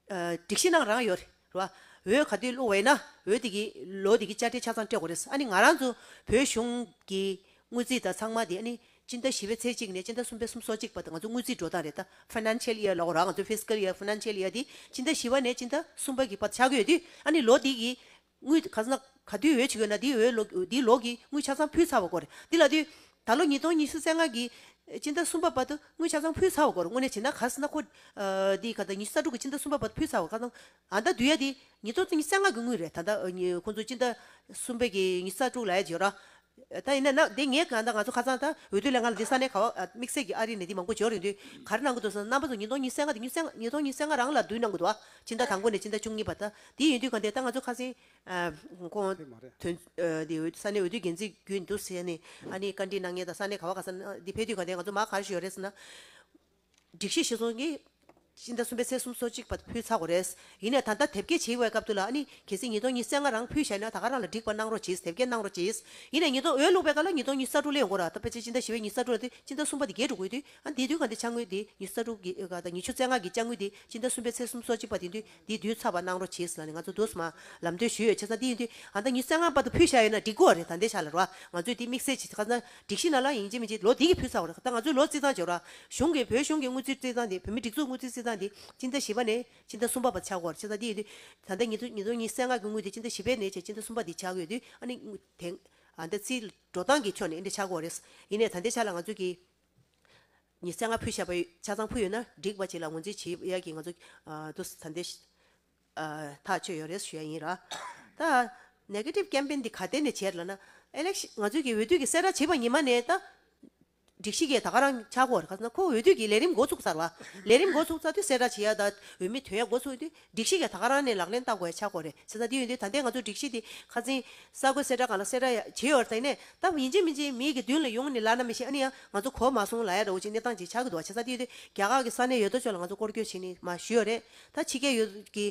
Speaker 1: སྒྲིག་གཞི་ནང་རང་ཡོད་རེད་བ། འོས་ག་དུས་སློག་བས་ན་འོས་དེ་གི་ལོ་དེ་གི་དཔྱ་ཁྲལ་ཆ་ཚང་སྤྲད་གོ་རེད་ཨ་ནི་ང་རང་ཚོ་བོད་གཞུང་གི་དངུལ་རྩིས་དང་ཚང་མ་དེ་ཨ་ནི་སྤྱི་ཟླ་བཞི་བའི་ཚེས་གཅིག་ནས་སྤྱི་ཟླ་གསུམ་པའི་གསུམ་སོ་གཅིག་བར་དུ་ང་ཚོ་དངུལ་རྩིས་འགྲོ་སྟངས་རེད་ད Financial Year ལ་གོ་རང་ང་ཚོ Fiscal Year Financial Year དེ་སྤྱི་ཟླ་བཞི་བ་ནས་སྤྱི་ཟླ་གསུམ་པ་གི་བར་དུ་ཆགས་ཀྱི་ཡོད་དུས་ཨ་ནི་ལོ་དེ་གི་དངུལ་ག་ཟླ་ག་དུས་འོས་ཆེ་གི་ན་དེའི་འོས་ལོ་དེའི་ལོག་གི་དངུལ་ཆ་ཚང་ཕུལ་ཚར་བ་དགོས་རེད་དེ་ལ་དུས་ད་ལོ་ཉིས་སྟོང་ཉི་ཤུ་རྩེ་ལྔ་གི་སྤྱི་ཟླ་གསུམ་པ་བར་དུ་དངུལ་ཆ་ཚང་ཕུལ་ཚར་བ་དགོས་རེད་དངོས་གནས་བྱས་ན་ག་ཟི་ན་ཁོ་དེའི་ག་ཟླ་ཉི་ཤུ་རྩ་དྲུག་གི་སྤྱི་ཟླ་གསུམ་པ་བར་དུ་ཕུལ་ཚར་བ་ཁ་ཚང་ཨ་ད་དུས་ཡ་དེ་ཉིས་སྟོང་ཉི་རྩེ་ལྔ་གི་དངུལ་རེད་ད་ད་ཁོང་ཚོ་སྤྱི་ཟླ་གསུམ་པའི་གི་ཉི་ཤུ་རྩ་དྲུག་ལ་ཡ་རྗེས་ར་ད་ཡིན་ན་ན་འདི་ངས་གང་ལྟ་ང་ཚོ་ཁ་ཚང་ད་འོས་བསྡུ་ལས་ང་ལ་འདི་ས་གནས་ཁ་བ་དམིགས་བསལ་གྱི་ཨ་རིའི་ནས་འདི་མང་པོ་འབྱོར་ཡོང་དུས་གར་གནང་གི་འདུག་སང་ཕོ་ཚོ་ཉིས་སྟོང་ཉིས་སེ་ལྔ་དེ་ཉིས་སེ་ལྔ་ཉིས་སྟོང་ཉིས་སེ་ལྔ་རང་ལ་བསྡུ་གནང་གི་འདུག་ཨ་ཕྱི་ཟླ་དང་པོ་ནས་ཕྱི་ཟླ་བཅུ་གཉིས་བར་ད་འདི་ཡིན་དུས་གང་ལྟས་ད་ང་ཚོ་ཁ་སེང་ཁོང་དེ་མ་རེད་དོན་འདི་འོས་ས་གནས་འོས་བསྡུ་འགན་འཛིན་རྒྱུ་ཡིན་དུས་ས་གནས་ཨ་ནི་བཀའ་འདྲི་གནང་ཉེ་ད་ས་གནས་ཁ་བ་ག་ས་ན་འདི་ཕེབས་དུས་གང་ལྟས་ང་ཚོ་མ་གར་ཞུ་ཡོད་རེད་ཟེར་ན། སྒྲིག་གཞི་ཤེས་ཚོང་གིས། སྤྱི་ཟླ་གསུམ་པའི་ཚེས་གསུམ་སོ་གཅིག་བར་ཕུལ་ཚར་གོ་རེད། ཡིན་ནས་ད་ལྟ་དེབ་སྐྱེལ་བྱེད་འོས་སྐབས་དུ་ལ་ཨ་ནི། གལ་སྲིད་ཉིས་སྟོང་གཉིས་ཚེས་ལྔ་རང་ཕུལ་ཤེས་ན་ད་ག་རང་ལ་འགྲིག་པ་གནང་རོགས་གྱིས་དེབ་སྐྱེལ་གནང་རོགས་གྱིས། ཡིན་ནས་ཉིས་སྟོང་འོས་བླུགས་པའི་སྐབས་ལ་ཉིས་སྟོང་གཉིས་ས་དྲུག་ལས་ཡོང་གོ་ར་ད་ཕལ་ཆེར་སྤྱི་ཟླ་བཞི་བའི་ཉིས་ས་དྲུག་ལ་དེ་སྤྱི་ཟླ་གསུམ་པ་དེ་བརྒྱད་དྲུག་དགོས་དུས་ཨ་ནི་དེ་དུས་གང་དེ་ཆ་དངུལ་དེ་ཉིས་ས་དྲུག་གི་ག་དང་ཉི་ཤུ་ཚེས་ལྔ་གི་ཆ་དངུལ་དེ་སྤྱི་ཟླ་གསུམ་པའི་ཚེས་གསུམ་སོ་གཅིག་བར་དེ་དུས་འདི་བསྡུས་ཚར་བ་གནང་རོགས་གྱིས་ལ་ནི་ང་ཚོ་འདུག་སྨ་ལམ་སྡོད་ཞུས་ཡོད་ཆེ་ས་འདི་ཡིན་དུས་ང་ད་ཉི་སེ་ང་བར་དུ་ཕུད་ཤ་ཡོད་ན་འགྲིག་གོ་རེད་ད་འདི་ཤ་ལ་རོ་ང་ཚོས་འདི་དམིགས་བསལ་གྱིས་ཁ་སང་སྒྲིག་གཞི་ན་ལ་ཡིན་གྱི་མིན་གྱི་ལོ་འདི་གི་ཕུད་ཚར་བ་རེད་ད་ང་ཚོས་ལོ་རྩིས་ཚང་བྱེད་རོགས་གཞུང་གི་བོད་གཞུང་གི་དངུལ་རྩིས་རྩིས་ཚང་འདི་བོད་མི་སྒྲིག་འཛུགས་དངུལ་རྩིས་རྩིས་ཚང་འདི་སྤྱི་ཟླ་བཞི་པ་ནས་སྤྱི་ཟླ་གསུམ་པ་བར་ཆག་གོ་རེད་ཆེ་ས་འདི་ཡིན་དུས་ད་ད་ཉི་ཚོ་ཉི་སེ་ང་གི་དངུལ་འདི་སྤྱི་ཟླ་བཞི་པའི་ནས་བཅས་སྤྱི་ཟླ་གསུམ་པ་འདི་ཆག་ཡོད་དུས་ཨ་ནི་དེང་ཨ་ད་རྩིས་འགྲོ་སྟངས་ཀྱི་ཆོ་ནས་འདི་ཆག་གོ་རེད་ཡིན་ནས་ད་འདི་ཤ་ལ་ང་ཚོས་གི། ཉི་ཚེ་ང་ཕོད་བཤད་པ་ཆ་ཚང་ཕུལ་ཡོད་ན་འགྲིག་བ་བྱས་ལ་ངོས་འཛིན་བྱེད་ཡོད་ཡག་གི་ང་ཚོ་དུ་ས་འདི་ཐག་ཆོད་ཡོད་རེད་ཞུ་ཡ་ཡིན་ར། ད Negative Campaign འདི་ག་ཐད་ནས་བྱས་ལ་ན། Election ང་ཚོའི་གི་འོས་བསྡུ་གི་གསལ་བསྒྲགས་བྱས་པ་ཉི་མ་ནས་ད་སྒྲིག་གཞི་གི་ད་ག་རང་ཆག་གོ་རེ་ག་ས་ན་ཁོ་འོས་བསྡུ་གི་ལས་རིམ་འགོ་ཚུགས་ཚར་བ། ལས་རིམ་འགོ་ཚུགས་ཚར་དུས་གསལ་བསྒྲགས་བྱས་ཡ་ད་འོས་མི་དོན་ཡ་འགོ་ཚུགས་དུས་སྒྲིག་གཞི་ཡ་ད་ག་རང་ནས་ལག་ལེན་བསྟར་དགོས་ཡ་ཆགས་དགོས་རེད་ཟེར་ས་དེ་ཡོད་འདུག་ད་ལྟའི་ང་ཚོ་སྒྲིག་གཞི་དེ་ཁ་འཛིན། གསར་འགོད་གསལ་བསྒྲགས་གང་ལ་གསལ་བསྒྲགས་ཡ་བྱེད་ཡོད་རེད་ཟེར་ནས་བལྟ་ཡིན་ཅིག་མིན་ཅིག་མིག་གི་མདུན་ལ་ཡོང་ནི་ལག་ན་མི་ཤེས་ཨ་ནི་ཡང་ང་ཚོ་གོ་མ་སོང་ལ་ཡ་རེའུ་ཅིག་གནས་སྟངས་ཅིག་ཆགས་ཀྱི་འདུག་བ་བྱེད་ས་དེ་ཡོད་དུས་རྒྱ་གར་གྱི་ས་གནས་ཡོད་དོ་ཅོག་ལ་ང་ཚོ་སྐོར་སྐྱོད་བྱེད་ནི་མ་ཞུས་ཡོད་རེད་ད་ཕྱི་རྒྱལ་ཡོད་ཀྱི་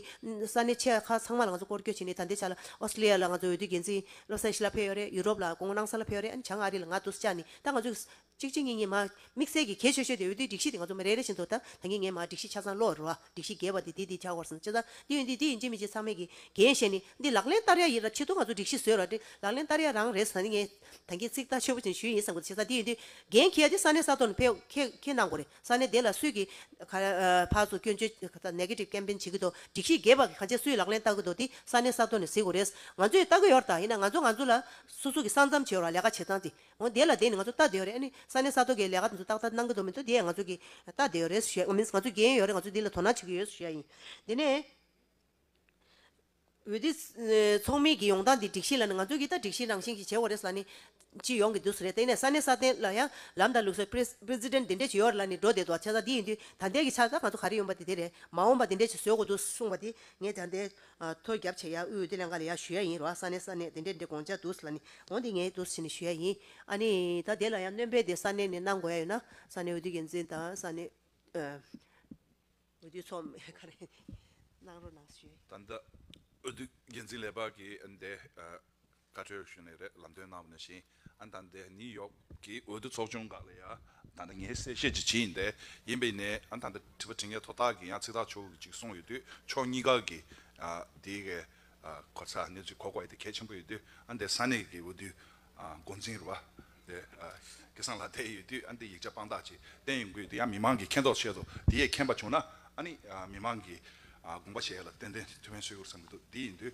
Speaker 1: ས་གནས་ཆེ་ཁག་ཚང་མ་ལ་ང་ཚོ་སྐོར་སྐྱོད་བྱེད་ནི་ད་འདི་ཆ་ལ་ཨོས་ཏྲེ་ལི་ཡ་ལ་ང་ཚོ་འོས་བསྡུའི་འགན་འཛིན་བློ་བཟང་ཤི་ལ་ཕེབས་ཡོད་རེད་ཡུ་རོབ་ལ་ཀོང་ནང་ས་ལ་ཕེབས་ཡོད་རེད་ཨ་ནི་བྱང་ཨ་རི་ལ་ང་ཏུས་ཅཱ་ནི་ད་ང་ཚོའི་གཅིག་གཅིག་གཉིས་གཉིས་མ། དམིགས་བསལ་གྱི་གས་ཤོད་ཤོད་དེ་འོད་དུའི་སྒྲིག་གཞི་དེ་ང་ཚོ་མི་རེ་རེ་བཞིན་དུ་ད་ད་ངེས་ངེས་མ་སྒྲིག་གཞི་ཆ་ཚང་ལོག་རོ། སྒྲིག་གཞི་འགལ་བ་འདི་འདི་འདི་བྱ་དགོར་སོང་ཅི་ད། འདི་ཡོད་འདི་འདི་ཡིན་ཅི་མི་ཅི་ཚང་མེད་གི། རྒན་བཤད་ནི། འདི་ལག་ལེན་བསྟར་ཡ་ཡིན་ར་ཆེད་དུ་ང་ཚོ་སྒྲིག་གཞི་བཟོས་ར་དྲི། ལག་ལེན་བསྟར་ཡ་རང་རེད་ཟ་ནི་ངས། ད་ངས་ཚིག་ཐག་ཆོད་པོ་ཅིག་ཞུས་ཡིན་བསམ་གོ་ཆེ་ས་འདི་ཡོད་འདི། རྒན་ཁྱེད་ཡ་འདི་ས་གནས་ས་ཐོག་ནས་ཕེབས་ཁེ་ཁེ་གནང་གོ་རེ་ས་གནས་དེ་ལ་སུས་ཀྱི། ཕར་ཚུར་སྐྱོན་བརྗོད་ག་ད Negative Campaign བྱེད་ཀྱི་འདུག་སྒྲིག་གཞི་འགལ་བ་ག་ཅེས་སུས་ལག་ལེན་བསྟར་གྱི་འདུག་འདི་ས་གནས་ས་ཐོག་ནས་གཟིགས་གོ་རེ། ང་ཚོས་བསྟར་གྱི་ཡོད་ར་ད་ཡིན་ན་ང་ཚོ་ང་ཚོ་ལ་སོ་སོ་གྱི་ས་མཚམས་བྱེད་ར་ལས་ཀ་བྱེད་སྟངས་འདི། འོ་དེ་ལ་དེ་ནི་ང་ཚོ་ལྟ་བདེའོ་རེད་ཨ་ནི་ས་གནས་ས་ཐོ་གའི་ལས་ཀ་དེ་ཚོ་ཏག་ཏག་གནང་གི་འདུག་མི་འདུག་དེ་ཡང་ང་ཚོ་གི་ལྟ་བདེའོ་རེད་ཞེས་ང་མིན་ང་ཚོ་འགན་ཡོད་རེད་ང་ཚོ་འདི་ལ་དོ་སྣང་བྱེད་ཀྱི་ཡོད་ཞེས་ཡིན་དེ་ནས་འོད་དེ་ཚོགས་མི་གི་ཡོང་སྟངས་འདི་སྒྲིག་གཞི་ལ་ནི་ང་ཚོ་གི་ལྟ་སྒྲིག་གཞི་རང་བཞིན་གྱི་བྱེད་འོ་རེད་ས་ནི་ཅི་ཡོང་གི་འདུག་ས་རེད་དེ་ནས་ས་གནས་ས་ཐན་ལ་ཡང་ལམ་དང་ལུགས་སྲོལ president འདི་འདྲས་ཇི་ཡོད་ལ་ནི་འགྲོ་བསྡད་འདུག་བ་ཆ་ཚང་འདི་ཡིན་དུས་ད་ལྟའི་གི་ཆ་ཚང་ང་ཚོ་ག་རེ་ཡོང་པ་དེ་དེ་རེད་མ་འོངས་པ་འདི་འདྲས་ཇི་བཟོས་དགོས་འདུག་གསུངས་པ་དེ་ངས་ད་ལྟའི་ཐོ་རྒྱབ་བྱས་ཡ་དབུས་དེ་ལས་འགའ་ལས་ཡ་ཞུ་ཡ་ཡིན་རོ་ས་ནས་ས་ནས་དེ་འདྲས་འདྲས་དགོངས་འཇགས་འདུག་ས་ལ་ནི་འོང་དེ་ངའི་འདུག་ས་ནས་ཞུ་ཡ་ཡིན་ཨ་ནི་ད་དེ་ལ་ཡང་གནོན་པས་དེ་ས་ནས་ནས་གནང་དགོས་ཡ་ཡོད་ན་ས་ནས་འོས་བསྡུ་འགན་འཛིན་དང་ས་ནས་འོས་བསྡུ་ཚོགས་མི་ག་རེ་གནང་རོགས་གནང་ཞུ་ཡ་ཡིན། ད་
Speaker 7: འོས་བསྡུ་འགན་འཛིན་ལས་འབག་གིས་འདས་བཀའ་ཁྲོལ་ཞུས་ནས་རེད་ལམ་སྟོན་གནང་བ་ནས་བཞིན་ཨན་དང་འདས་ནིའུ་ཡོག་གི་འོས་བསྡུ་ཚོགས་ཆུང་འགའ་ལ་ཡང་ད་ནི་ངས་གསལ་བཤད་ཅིག་བྱེད་ཡིན་ཏེ་ཡིན་པའི་ནི་ཨན་དང་འདས་དྲི་བ་དྲི་ངས་དོ་བདག་གིས་ཡང་ཚིག་ཐག་ཆོད་ཅིག་གསུངས་ཡོད་དུས་ཕྱོགས་གཉིས་ཀ་གིས་དེའི་གེ་ཁོ་ཚ་གནས་ཚུལ་གོ་དགོས་དེ་གལ་ཆེན་པོ་ཡོད་དུས་ཨན་འདས་ས་གནས་གི་འོས་བསྡུའི་འགོ་འཛིན་རུ་བ་དེ་གེ་སང་ལ་བསྡད་ཡོད་དུས་ཨན་འདས་ཡིག་ཆ་དཔང་རྟགས་ཅིག་བསྟན་ཡོང་གི་དེ་ཡང་མི་མང་གིས་མཁྱེན་རྟོགས་བྱེད་དོ་དེ་ཡས་མཁྱེན་པ་བྱུང་ན་ཨ་ནི་མི་མང་གིས་དགོངས་པ་བཞེས་ལ་ཏན་ཏན་ཐུ་བྷན་བསོད་ཡུར་བསམ་གི་འདུག་དེ་ཡིན་དུས།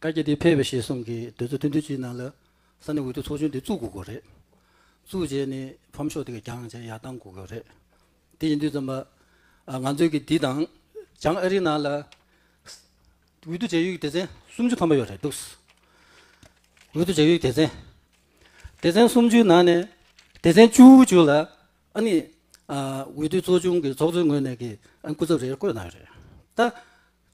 Speaker 10: བཀའ་རྒྱ་འདི་ཕེབས་པའི་ཞེས་གསུངས་ཀྱི་དུས་ཚོད་ཐུང་ཐུང་ཞིག་ནང་ལ་ས་གནས་འོས་བསྡུ་ཚོགས་ཆུང་འདི་བཙུགས་དགོས་དགོས་རེད། བཙུགས་རྗེས་ནས་ཕམ་ཤོག་དེ་ག་རྒྱང་བཅས་ཡར་བཏང་དགོས་དགོས་རེད། དེ་ཡིན་དུས་ཙམ་པ། ང་ཚོས་ཀྱི་འདི་དང་བྱང་ཨ་རིའི་ནང་ལ་འོས་བསྡུ་བྱ་ཡུལ་གྱི་སྡེ་ཚན་སུམ་ཅུ་ཐམ་པ་ཡོད་རེད་འདུག། འོས་བསྡུ་བྱ་ཡུལ་གྱི་སྡེ་ཚན། སྡེ་ཚན་སུམ་ཅུའི་ནང་ནས་སྡེ་ཚན་བཅུ་བཅུ་ལ་ཨ་ནི་འོས་བསྡུ་ཚོགས་ཆུང་གི་ཚོགས་གཙོའི་ངོས་ནས་ཀྱི་ཨ་ནི་སྐུ་ཚབ་རེ་རེ་བསྐོས་གནང་ཡོད་རེད། ད།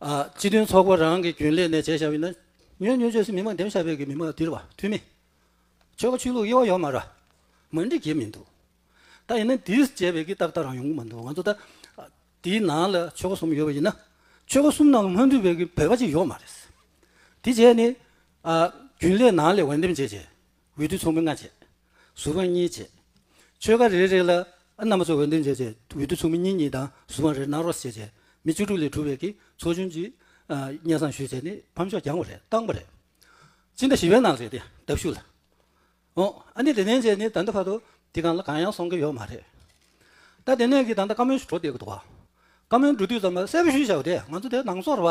Speaker 10: སྤྱི་མཐུན་ཚོགས་པ་རང་གི་རྒྱུན་ལས་ནས་བྱས་བཞག་ཡིན་ན། ཉོན་ཉོན་ཆོས་སུ་མི་མ་འདེམས་ཤ་བེད་ཀྱི་མི་མ་དིར་བ་མཐུ་མེད། ཆོལ་ཁ་ཆོས་ལུགས་དབྱེ་བ་ཡོད་མ་ར། མ་འགྲིག་གི་མི་འདུག། ད་ཡིན་ན་དིར་བྱས་བེད་ཀྱི་ཏག་ཏག་རང་ཡོང་གི་མ་འདུག་ང་ཚོ་ད། དེའི་ནང་ལ་ཆོལ་ཁ་གསུམ་ཡོད་པ་ཡིན་ན། ཆོལ་ཁ་གསུམ་ནང་ལ་སྔོན་འགྲོའི་བེད་ཀྱི་བེད་ཀ་གཅིག་ཡོད་མ་རེད། དེ་བྱས་ནས། རྒྱུན་ལས་ནང་ལས་འོས་འདེམས་བྱས་བྱས། འོད་དུ་མཚུངས་མེད་ལྔ་བྱེད། གཟུགས་དབང་གཉིས་བྱེད། ཆོས་སྐར་རེ་རེ་ལ། རྣམ་པ་ཚོགས་འོད་འདུས་བྱས། འོད་དུ་མཚུངས་མེད་གཉིས་གཉིས་དང་གཟུགས་དབང་རེ་རྣམ་རོ་བྱེད། མི་བཅུ་དྲུག་ལས་གྲུབ་བས་ཀྱིས་ཚོགས་ཆུང་གཅིག། གཉེན་བསམ་ཞུས་བྱས་ནས་ཕམ་ཤོག་བརྒྱངས་པ་རེད་བཏང་པ་རེད། སྤྱི་ཟླ་བཞི་བའི་ནང་རེད་དེ་ལྟབ་ཞུ་ལ། ཨོ། ཨ་ནི་དེ་ནས་བྱས་ནས་ད་ལྟ་བར་དུ་དེ་གང་ལ་གང་ཡང་སོང་གི་ཡོད་མ་རེད། ད་དེ་ནས་ཀྱིས་ད་ལྟ་བཀའ་མོལ་ཞུ་འགྲོ་བསྡད་ཀྱི་འདུག་བ། བཀའ་མོལ་འགྲོ་དུས་ཙམ་ལ་གསལ་པོ་ཞུས་བྱའོ་དེ་ང་ཚོ་དེ་ནང་སོར་བ།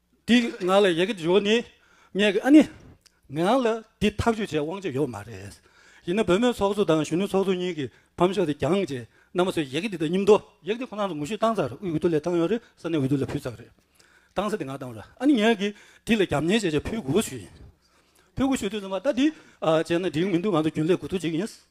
Speaker 10: འདི་ང་ལ་ཡི་གེ་འབྱོར་ནས་ངས་ཨ་ནི། ངས་རང་ལ་འདི་ཐག་གཅོད་བྱེད་དབང་ཆ་ཡོད་མ་རེད། ཡིན་ན་བོད་མིའི་ཚོགས་གཙོ་དང་གཞོན་ནུ་ཚོགས་གཙོ་གཉིས་ཀྱིས་ཕམ་ཤོག་དེ་གྱང་ཅེས་རྣམ་པ་ཚོས་ཡི་གེ་འདི་དག་སྙིམ་དོ། ཡི་གེ་འདི་ཁོ་ན་ཚོ་ངོ་བཤུས་བཏང་ཚར་དབུས་འོས་བསྡུ་ལས་བཏང་ཡོད་རེད་ས་གནས་འོས་བསྡུ་ལ་ཕུལ་ཚར་རེད། བཏང་ས་དེ་ང་བཏང་ར་ཨ་ནི་ངས་གིས་འདི་ལ་རྒྱབ་གཉེར་བྱེད་ཆེད་ཕུལ་དགོས་པ་ཞུས་ཡིན། ཕུལ་དགོས་ཞུས་དུས་ཚང་མ་ད་འདི་བྱས་ན་འགྲིག་མི་འདུག་ང་ཚོ་རྒྱུན་ལས་དགོས་ཐུག་བྱེད་ཀྱི་ཡིན།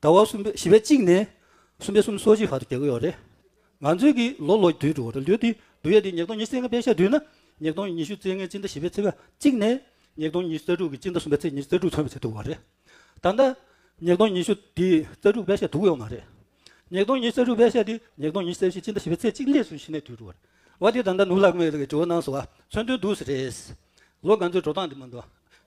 Speaker 10: ཟླ་བ་གསུམ་པའི་བཞི་པའི་གཅིག་ནས་གསུམ་པའི་གསུམ་སོ་གཅིག་བར་དུ་རྒྱལ་སྒོ་ཡོད་རེད། ང་ཚོའི་གིས་ལོ་ལོ་དུས་དྲུག་རེད་ལུས་དེ་དུས་ཡས་དེ་ཉིས་སྟོང་ཉི་ཚེ་ལྔ་པའི་ཤར་དུས་ན་ཉིས་སྟོང་ཉི་ཤུ་ཚེ་ལྔའི་སྤྱི་ཟླ་བཞི་པའི་ཚེས་གཅིག་ནས་ཉིས་སྟོང་ཉི་ཤུ་རྩ་དྲུག་གི་སྤྱི་ཟླ་གསུམ་པའི་ཚེས་ཉི་ཤུ་རྩ་དྲུག་མཚོན་བྱེད་ཐུབ་བ་རེད། ད་ལྟ་ཉིས་སྟོང་ཉི་ཤུ་དེ་རྩ་དྲུག་པའི་ཤར་དུག་ཡོད་མ་རེད། ཉིས་སྟོང་ཉི་ཤུ་རྩ་དྲུག་པའི་ཤར་དེ་ཉིས་སྟོང་ཉི་ཤུ་རྩ་བཞི་སྤྱི་ཟླ་བཞི་པའི་ཚེས་གཅིག་ལས་སུ་ཞི་ནས་དུས་དྲུག་རེད། བ་དེ་ད་ལྟ་ནུབ་ལག་མེད་ལ་གི་དྲི་བ་གནང་སོང་བ་མཚོན་དོན་འདུག་ཟེར་རེད། ལོ་ང་ཚོའི་འགྲོ་སྟངས་དེ་མ་འདུག་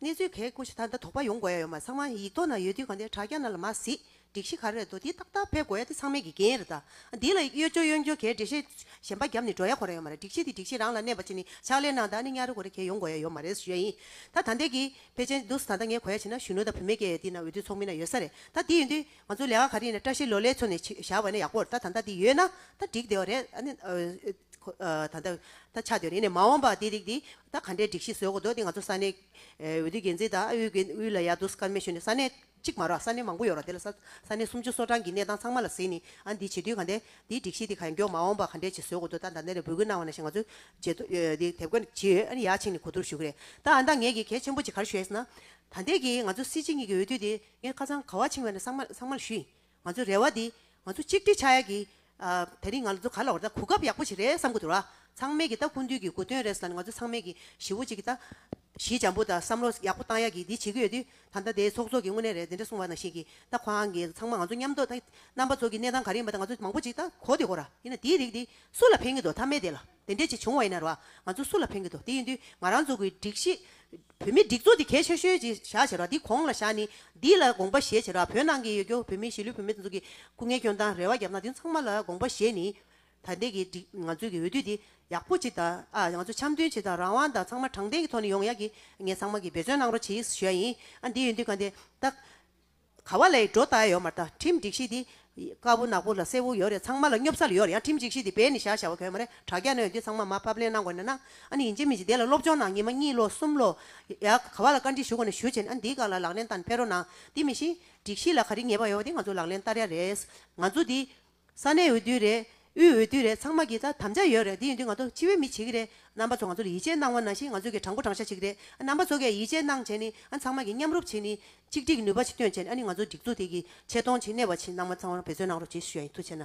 Speaker 1: གནས་ཚུལ་གས་སྐུ་ཞེ་ད་ད་དོག་པ་ཡོང་དགོས་ཡ་ཡོད་མ་ཚང་མ་ཡིག་ཐོག་ན་ཡོད་དུས་གང་དེ་དྲ་རྒྱ་ན་ལ་མ་གཟིགས་སྒྲིག་གཞི་ག་རེད་འདུག་དེ་ཏག་ཏག་ཕེབས་དགོས་ཡ་དེ་ཚང་མེད་ཀྱི་རྒྱན་རེད་ད་འདི་ལ་གཡོ་སྦྱོར་གཡོ་འགྱོ་གས་འདྲེ་ཤེས་གཞན་པ་རྒྱབ་ནས་འགྲོ་ཡ་གོ་རེ་ཡོད་མ་རེད་སྒྲིག་གཞི་དེ་སྒྲིག་གཞི་རང་ལ་གནས་པ་ཅི་ནི་ཕྱག་ལས་གནང་ད་ནི་གཉའ་རེ་གོ་རེ་གས་ཡོང་དགོས་ཡ་ཡོད་མ་རེད་ཞུ་ཡ་ཡིན་ད་ད་འདས་ཀྱི་ཕལ་ཆེན་འདུག་ད་ད་ངས་གོ་ཡ་བྱས་ན་གཞོན་ནུ་ད་བུད་མེད་ཀས་ཡོད་དུས་ན་འོས་བསྡུ་ཚོགས་མི་ན་ཡོད་ས་རེད་ད་འདི་ཡོད་དུས་ང་ཚོ་ལས་ཀ་ག་རེ་ཡིན་ན་བཀྲ་ཤིས་ལོ་ལེགས་ཚོ་ནས་བཞག་བ་ན་ཡག་པོ་རེད་ད་ད་འདི་ཡོད་ན་ད་འགྲིག་བདེ་བ་རེད་ད་ལྟ་ད་ཆ་དེ་རིང་ནས་མ་འོངས་པར་དེའི་རིགས་དེ་ད་ག་འདྲའི་སྒྲིག་གཞི་བཟོས་དགོས་འདུག་དེ་ང་ཚོ་ས་གནས་འོས་བསྡུའི་འགན་འཛིན་དང་ཨུའི་འགན་དབུས་ལ་ཡར་འདུག་སྐར་མའི་ཞོལ་ནས་ས་གནས་གཅིག་མ་རག་ས་གནས་མང་པོ་ཡོད་རོགས་དེ་ལ་ས་ས་གནས་སུམ་ཅུ་སོ་གྲངས་ཀྱི་གནས་སྟངས་ཚང་མ་ལ་གཟིགས་ནས་ཨ་འདི་བྱེད་དུས་ག་འདའི་དེའི་སྒྲིག་གཞི་དེ་ག་མགྱོགས་མ་འོངས་པར་ག་འདྲའི་བྱེད་བཟོས་དགོས་འདུག་ད་ད་ནས་ལས་འབོད་སྐུལ་གནང་བ་ནས་བཤད་ང་ཚོས་བྱེད་ཐུབ་དེ་དེབ་སྐོར་ཇི་ཡོད་ཨ་ཡར་ཕྱིན་ནས་གོ་བསྡུར་ཞུ་གི་རེད་ད་ཨ་ད་ངས་ཀྱི་གལ་ཆེན་པོ་ཅིག་གར་ཞུ་ཡས་ན། ད་འདས་ཀྱི་ང་ཚོ་སྲིད་སྤྱི་གཉིས་ཀྱི་འོས་བསྡུ་དེ་ངས་ཁ་ཚང་ག་བ་ཕྱིན་བས་ན་ཚང་མ་ཚང་མ་ལ་ཞུ་ཡིན་ང་ཚོའི་རེ་བ་འདི་ང་ཚོ་གཅིག་སྒྲིལ་ཆགས་ཡ་གི། ད་རིང་ང་ལ་ཚོ་ག་ལ་བར་ད་གོ་སྐབས་ཡག་པོ་ཞིག་རེད་བསམ་གི་འདུག་ར། ཚང་མས་གི་ད་ཀུན་དུས་གི་དགོས་དོན་རེད་ཟེར་ན་ང་ཚོ་ཚང་མས་གི་ཞི་བོ་ཅིག་གི་ད། གཞི་འཇམ་པོ་ད་བསམ་བློ་ཡག་པོ་བཏང་ཡ་གི་འདི་བྱེད་གི་ཡོད་དུས་ད་ད་དེ་ཚོགས་གཙོ་གི་དངོས་གནས་རེད་དེ་འདྲ་གསུངས་པ་ནང་བཞིན་གི་ད་ཁོ་རང་གི་ཚང་མ་ང་ཚོ་མཉམ་དུ་ད་རྣམ་པ་ཚོ་གི་གནས་སྟངས་ག་རེ་ཡིན་པ་ད་ང་ཚོ་མང་པོ་ཅིག་ད་གོ་དེ་གོ་ར། ཡིན་ན་དེའི་རིགས་འདི་སུ་ལ་ཕན་གི་འདུག་ཐ་མལ་དེ་ལ། དེ་འདྲས་ཅིག་བྱུང་བ་ཡིན་ན་ར་ང་ཚོ་སུ་ལ་ཕན་གི་འདུག་དེ་ཡིན་དུས་ང་རང་ཚོ་གི་སྒྲིག་གཞི། བོད་མི་སྒྲིག་འཛུགས་འདི་གལ་ཆེ་ཤོས་ཀྱི་བཞག་བྱས་ར་འདི་གོང་ལ་བཞག་ནི་འདི་ལ་དགོངས་པ་བཞེས་བྱས་ར་བོད་ནང་གི་ཡོད་རྒྱུ་བོད་མི་གཞིས་ལུས་བོད་མི་ཚོ་གི་སྐུ་ངལ་སྐྱོན་དང་རེ་བ་རྒྱབ་ན་འདི་ཚང་མ་ལ་དགོངས་པ་བཞེས་ནི། ད་ལྟའི་གི་སྒྲིག་ང་ཚོ་གི་འོས་བསྡུ་འདི་ཡག་པོ་ཅིག་དང་ཨ་ང་ཚོ་འཆམ་མཐུན་ཆེ་དང་རང་དབང་དང་ཚང་མ་དྲང་བདེན་གི་ཐོག་ནས་ཡོང་ཡག་གི་ངས་ཚང་མ་གི་འབད་བརྩོན་གནང་རོགས་བྱེད་ཞུ་ཡ་ཡིན་ཨ་འདི་ཡིན་དུས་ག་འདི་ལྟ། ག་བ་ལའི་སྒྲོ་བཏགས་ཡོད་མ་རྟ་ཁྲིམས་སྒྲིག་གཞི་འདི། དཀར་བོ་ནག་པོ་ལ་སེར་བོ་ཡོད་རེད་ཚང་མ་ལ་སྙོབ་ཚར་ཡོད་རེད་ཡང་ཁྲིམས་སྒྲིག་གཞི་འདི་བས་ནི་བཞག་བཞག་བ་གོས་མ་རེད་དྲ་རྒྱ་སྣོད་འདི་ཚང་མ་མ་ཕབ་ལེན་གནང་དགོས་ན་གནང་ཨ་ནི་ཡིན་ཅན་མིན་ཅན་དེ་ལ་སློབ་སྦྱོང་གནང་ཉིན་མ་གཉིས་ལོ་གསུམ་ལོ། ཡ། ག་བ་ལ་བཀའ་འདྲི་ཞུ་དགོས་ན་ཞུ་བྱས་ནས་ཨ་འདིའི་སྒང་ལ་ལག་ལེན་བསྟར་ནས་ཕེ་རོ་གནང་འདི་མི་ཤེས། སྒྲིག་གཞི་ལ་ག་རི་ངེས་པ་ཡོད་པ་དེ་ང་ཚོ་ལག་ལེན་བསྟར་ཡ་རེད། ང་ཚོ་འདི། ས་གནས་འོས་བསྡུ་རེད། དབུས་འོས་བསྡུ་རེད་ཚང་མ་གིས་ད་དམ་བཅའ་ཡོད་རེད་འདི་ཡིན་དུས་ང་ཚོ་སྤྱི་བའི་མི་བྱེད་ཀྱི་རེད། རྣམ་པ་ཚོ་ང་ཚོར་ཡིད་ཆེས་གནང་བ་ནང་བཞིན་ང་ཚོ་གི་དྲང་པོ་དྲང་ཤ་བྱེད་ཀྱི་རེད། རྣམ་པ་ཚོ་གས་ཡིད་ཆེས་གནང་བྱས་ནི་ཨ་ཚང་མ་གིས་མཉམ་རུབ་བྱེད་ནི། གཅིག་སྒྲིག་ནུས་པ་ཆེ་བཏོན་བྱས་ནི་ཨ་ནི་ང་ཚོ་སྒྲིག་འཛུགས་དེ་གི་ཆེ་མཐོང་ཆེ་གནས་པ་ཆེ་རྣམ་པ་ཚང་མར་འབད་བརྩོན་གནང་རོགས་བྱེད་ཤུ་ཡ་ཡིན་ཐུགས་ཆེ་ན།